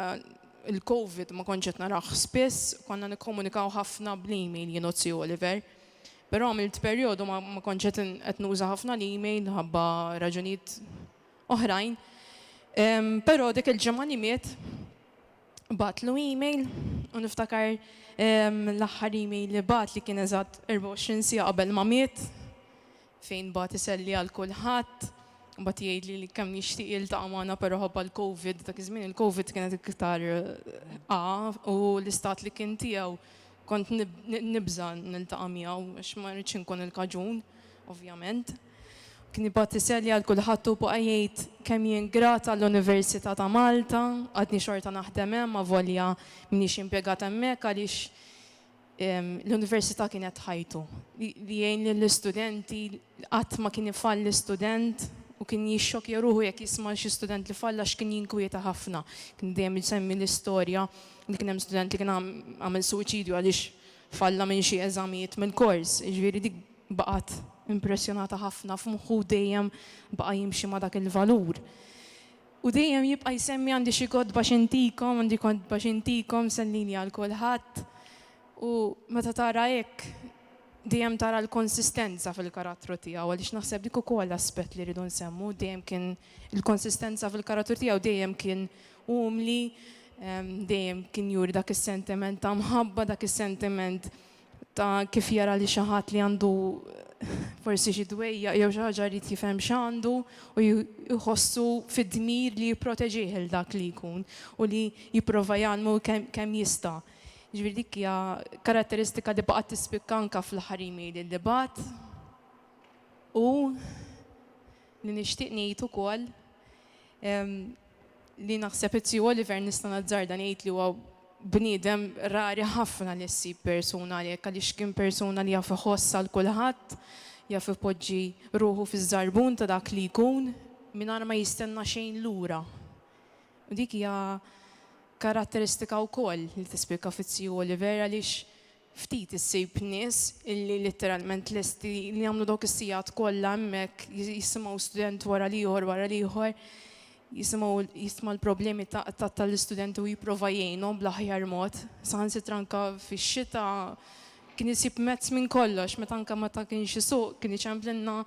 l-Covid ma kontx qed narah spiss, konna nikkomunikaw ħafna bl-email jien u t-Sir Oliver. Però għamilt perjodu ma kontx qed qed nuża ħafna l-email minħabba raġunijiet oħrajn. Però dik il-ġimgħa li miet bagħatlu email u niftakar l-aħħar email li bagħat li kien eżatt 24 siegħa qabel ma miet. fejn bagħat iselli għal kulħadd, mbagħad jgħidli li kemm jixtieq jiltaqa' magħna però ħabba l-Covid, dak iż-żmien il-Covid kienet iktar A u l-istat li kien tiegħu kont nibża' niltaqa' miegħu għax ma rridx inkun il-kaġun ovvjament. Kien ibgħat iselli għal kulħadd u baqa' jgħid kemm jien grat għall-Università ta' Malta, għadni xorta naħdem hemm avolja m'iniex impjegat hemmhekk għaliex L-università kienet ħajtu. Li jgħin lill-istudenti, qatt ma kien ifalli student u kien jixxokkja ruħu jekk jisma' xi student li falla għax kien jinkwieta ħafna. Kien dejjem isemmi l-istorja li kien hemm student li kien għamel suwiċidju għaliex falla minn xi eżamijiet mill-kors. Jiġifieri dik baqgħet impressjonata ħafna f'moħħu u dejjem baqa' jimxi ma' dak il-valur. U dejjem jibqa' jsemmi għandi xi kotba x'intikom, għandi kotba x'intikom, msellini għal kulħadd. U meta tara hekk, dejjem tara l-konsistenza fil-karattru tiegħu, għaliex naħseb dik ukoll aspett li rridu nsemmu, dejjem kien il-konsistenza fil-karattru tiegħu, dejjem kien umli, dejjem kien juri dak is-sentiment ta' mħabba, dak is-sentiment ta' kif jara li xi ħadd li għandu forsi xi dwejjaq jew xi ħaġa jrid jifhem x'għandu u jħossu fid-dmir li jipproteġih il dak li jkun u li jipprova jgħallmu kemm jista'. Ġifieri dik hija karatteristika li baqgħet tispikka anke fl-aħħar email li bagħat u li nixtieq ngħid ukoll li naħseb li T. Oliver nista' nazzarda ngħid li huwa bniedem rari ħafna li ssib persuna għalhekk għaliex kien persuna li jaf iħoss għal kulħadd, jaf ipoġġi ruħu fiż-żarbun ta' dak li jkun mingħajr ma jistenna xejn lura. U dik hija karatteristika wkoll li tispikka fit-T. Oliver għaliex Ftit issib nies illi litteralment lesti li jagħmlu dawk is-sigħat kollha hemmhekk jisimgħu student wara l-ieħor wara l-ieħor, jisimgħu jistma' l-problemi tal-istudenti u jipprova jgħinhom bl-aħjar mod. Saħansitra anke fix-xita kien isib mezz minn kollox, meta anke meta kienx isuq kien iċemplilna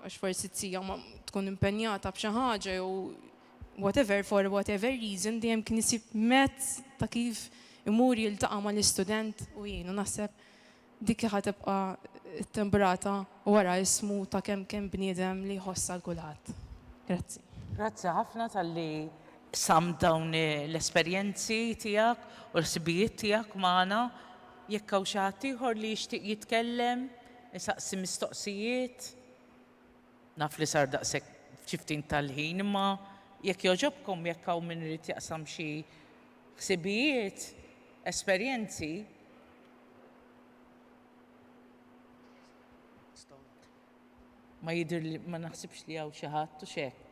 għax forsi t-tija tkun impenjata b'xi ħaġa jew whatever, for whatever reason, dejjem kien isib mezz ta' kif imur jiltaqa' mal-istudent u jgħinu. Naħseb dik hi ħa tibqa' t-timbrata wara ismu ta' kemm kien bniedem li jħoss għal kulħadd. Grazzi. Grazzi ħafna talli qsamt dawn l-esperjenzi tiegħek u l-ħsibijiet tiegħek magħna. Jekk hawn xi ħadd ieħor li jixtieq jitkellem, isaqsi mistoqsijiet. Naf li sar daqshekk f'xi ftit tal-ħin, imma jekk jogħġobkom jekk hawn min irid jaqsam xi ħsibijiet, esperjenzi. Ma jidhirli, ma naħsibx li hawn xi ħadd, hux hekk?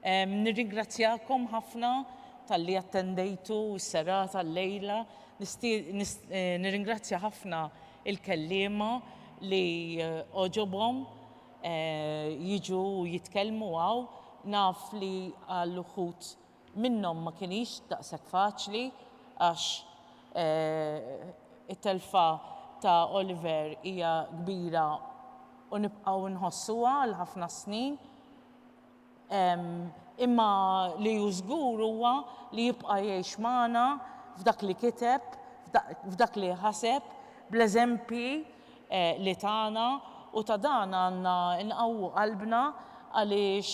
Nirringrazzjakom ħafna talli attendejtu s-serata llejla. Nirringrazzja ħafna il-kelliema li għoġobhom jiġu jitkellmu hawn. Naf li għal uħud minnhom ma kinitx daqshekk faċli għax it-telfa ta' Oliver hija kbira u nibqgħu nħossuha għal ħafna snin. Imma li hu żgur huwa li jibqa' jgħix magħna f'dak li kiteb, f'dak li ħaseb, bl-eżempji li tana u ta' dan għandna nqawwu qalbna għaliex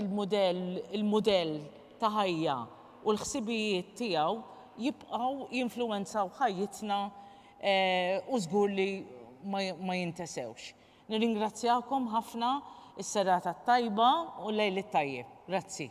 il-mudell ta' ħajja u l-ħsibijiet tiegħu jibqgħu jinfluwenzaw ħajjitna u żgur li ma jintesewx. Nirringrazzjakom ħafna, is-serata t-tajba u l-lejl it-tajjeb. Grazzi.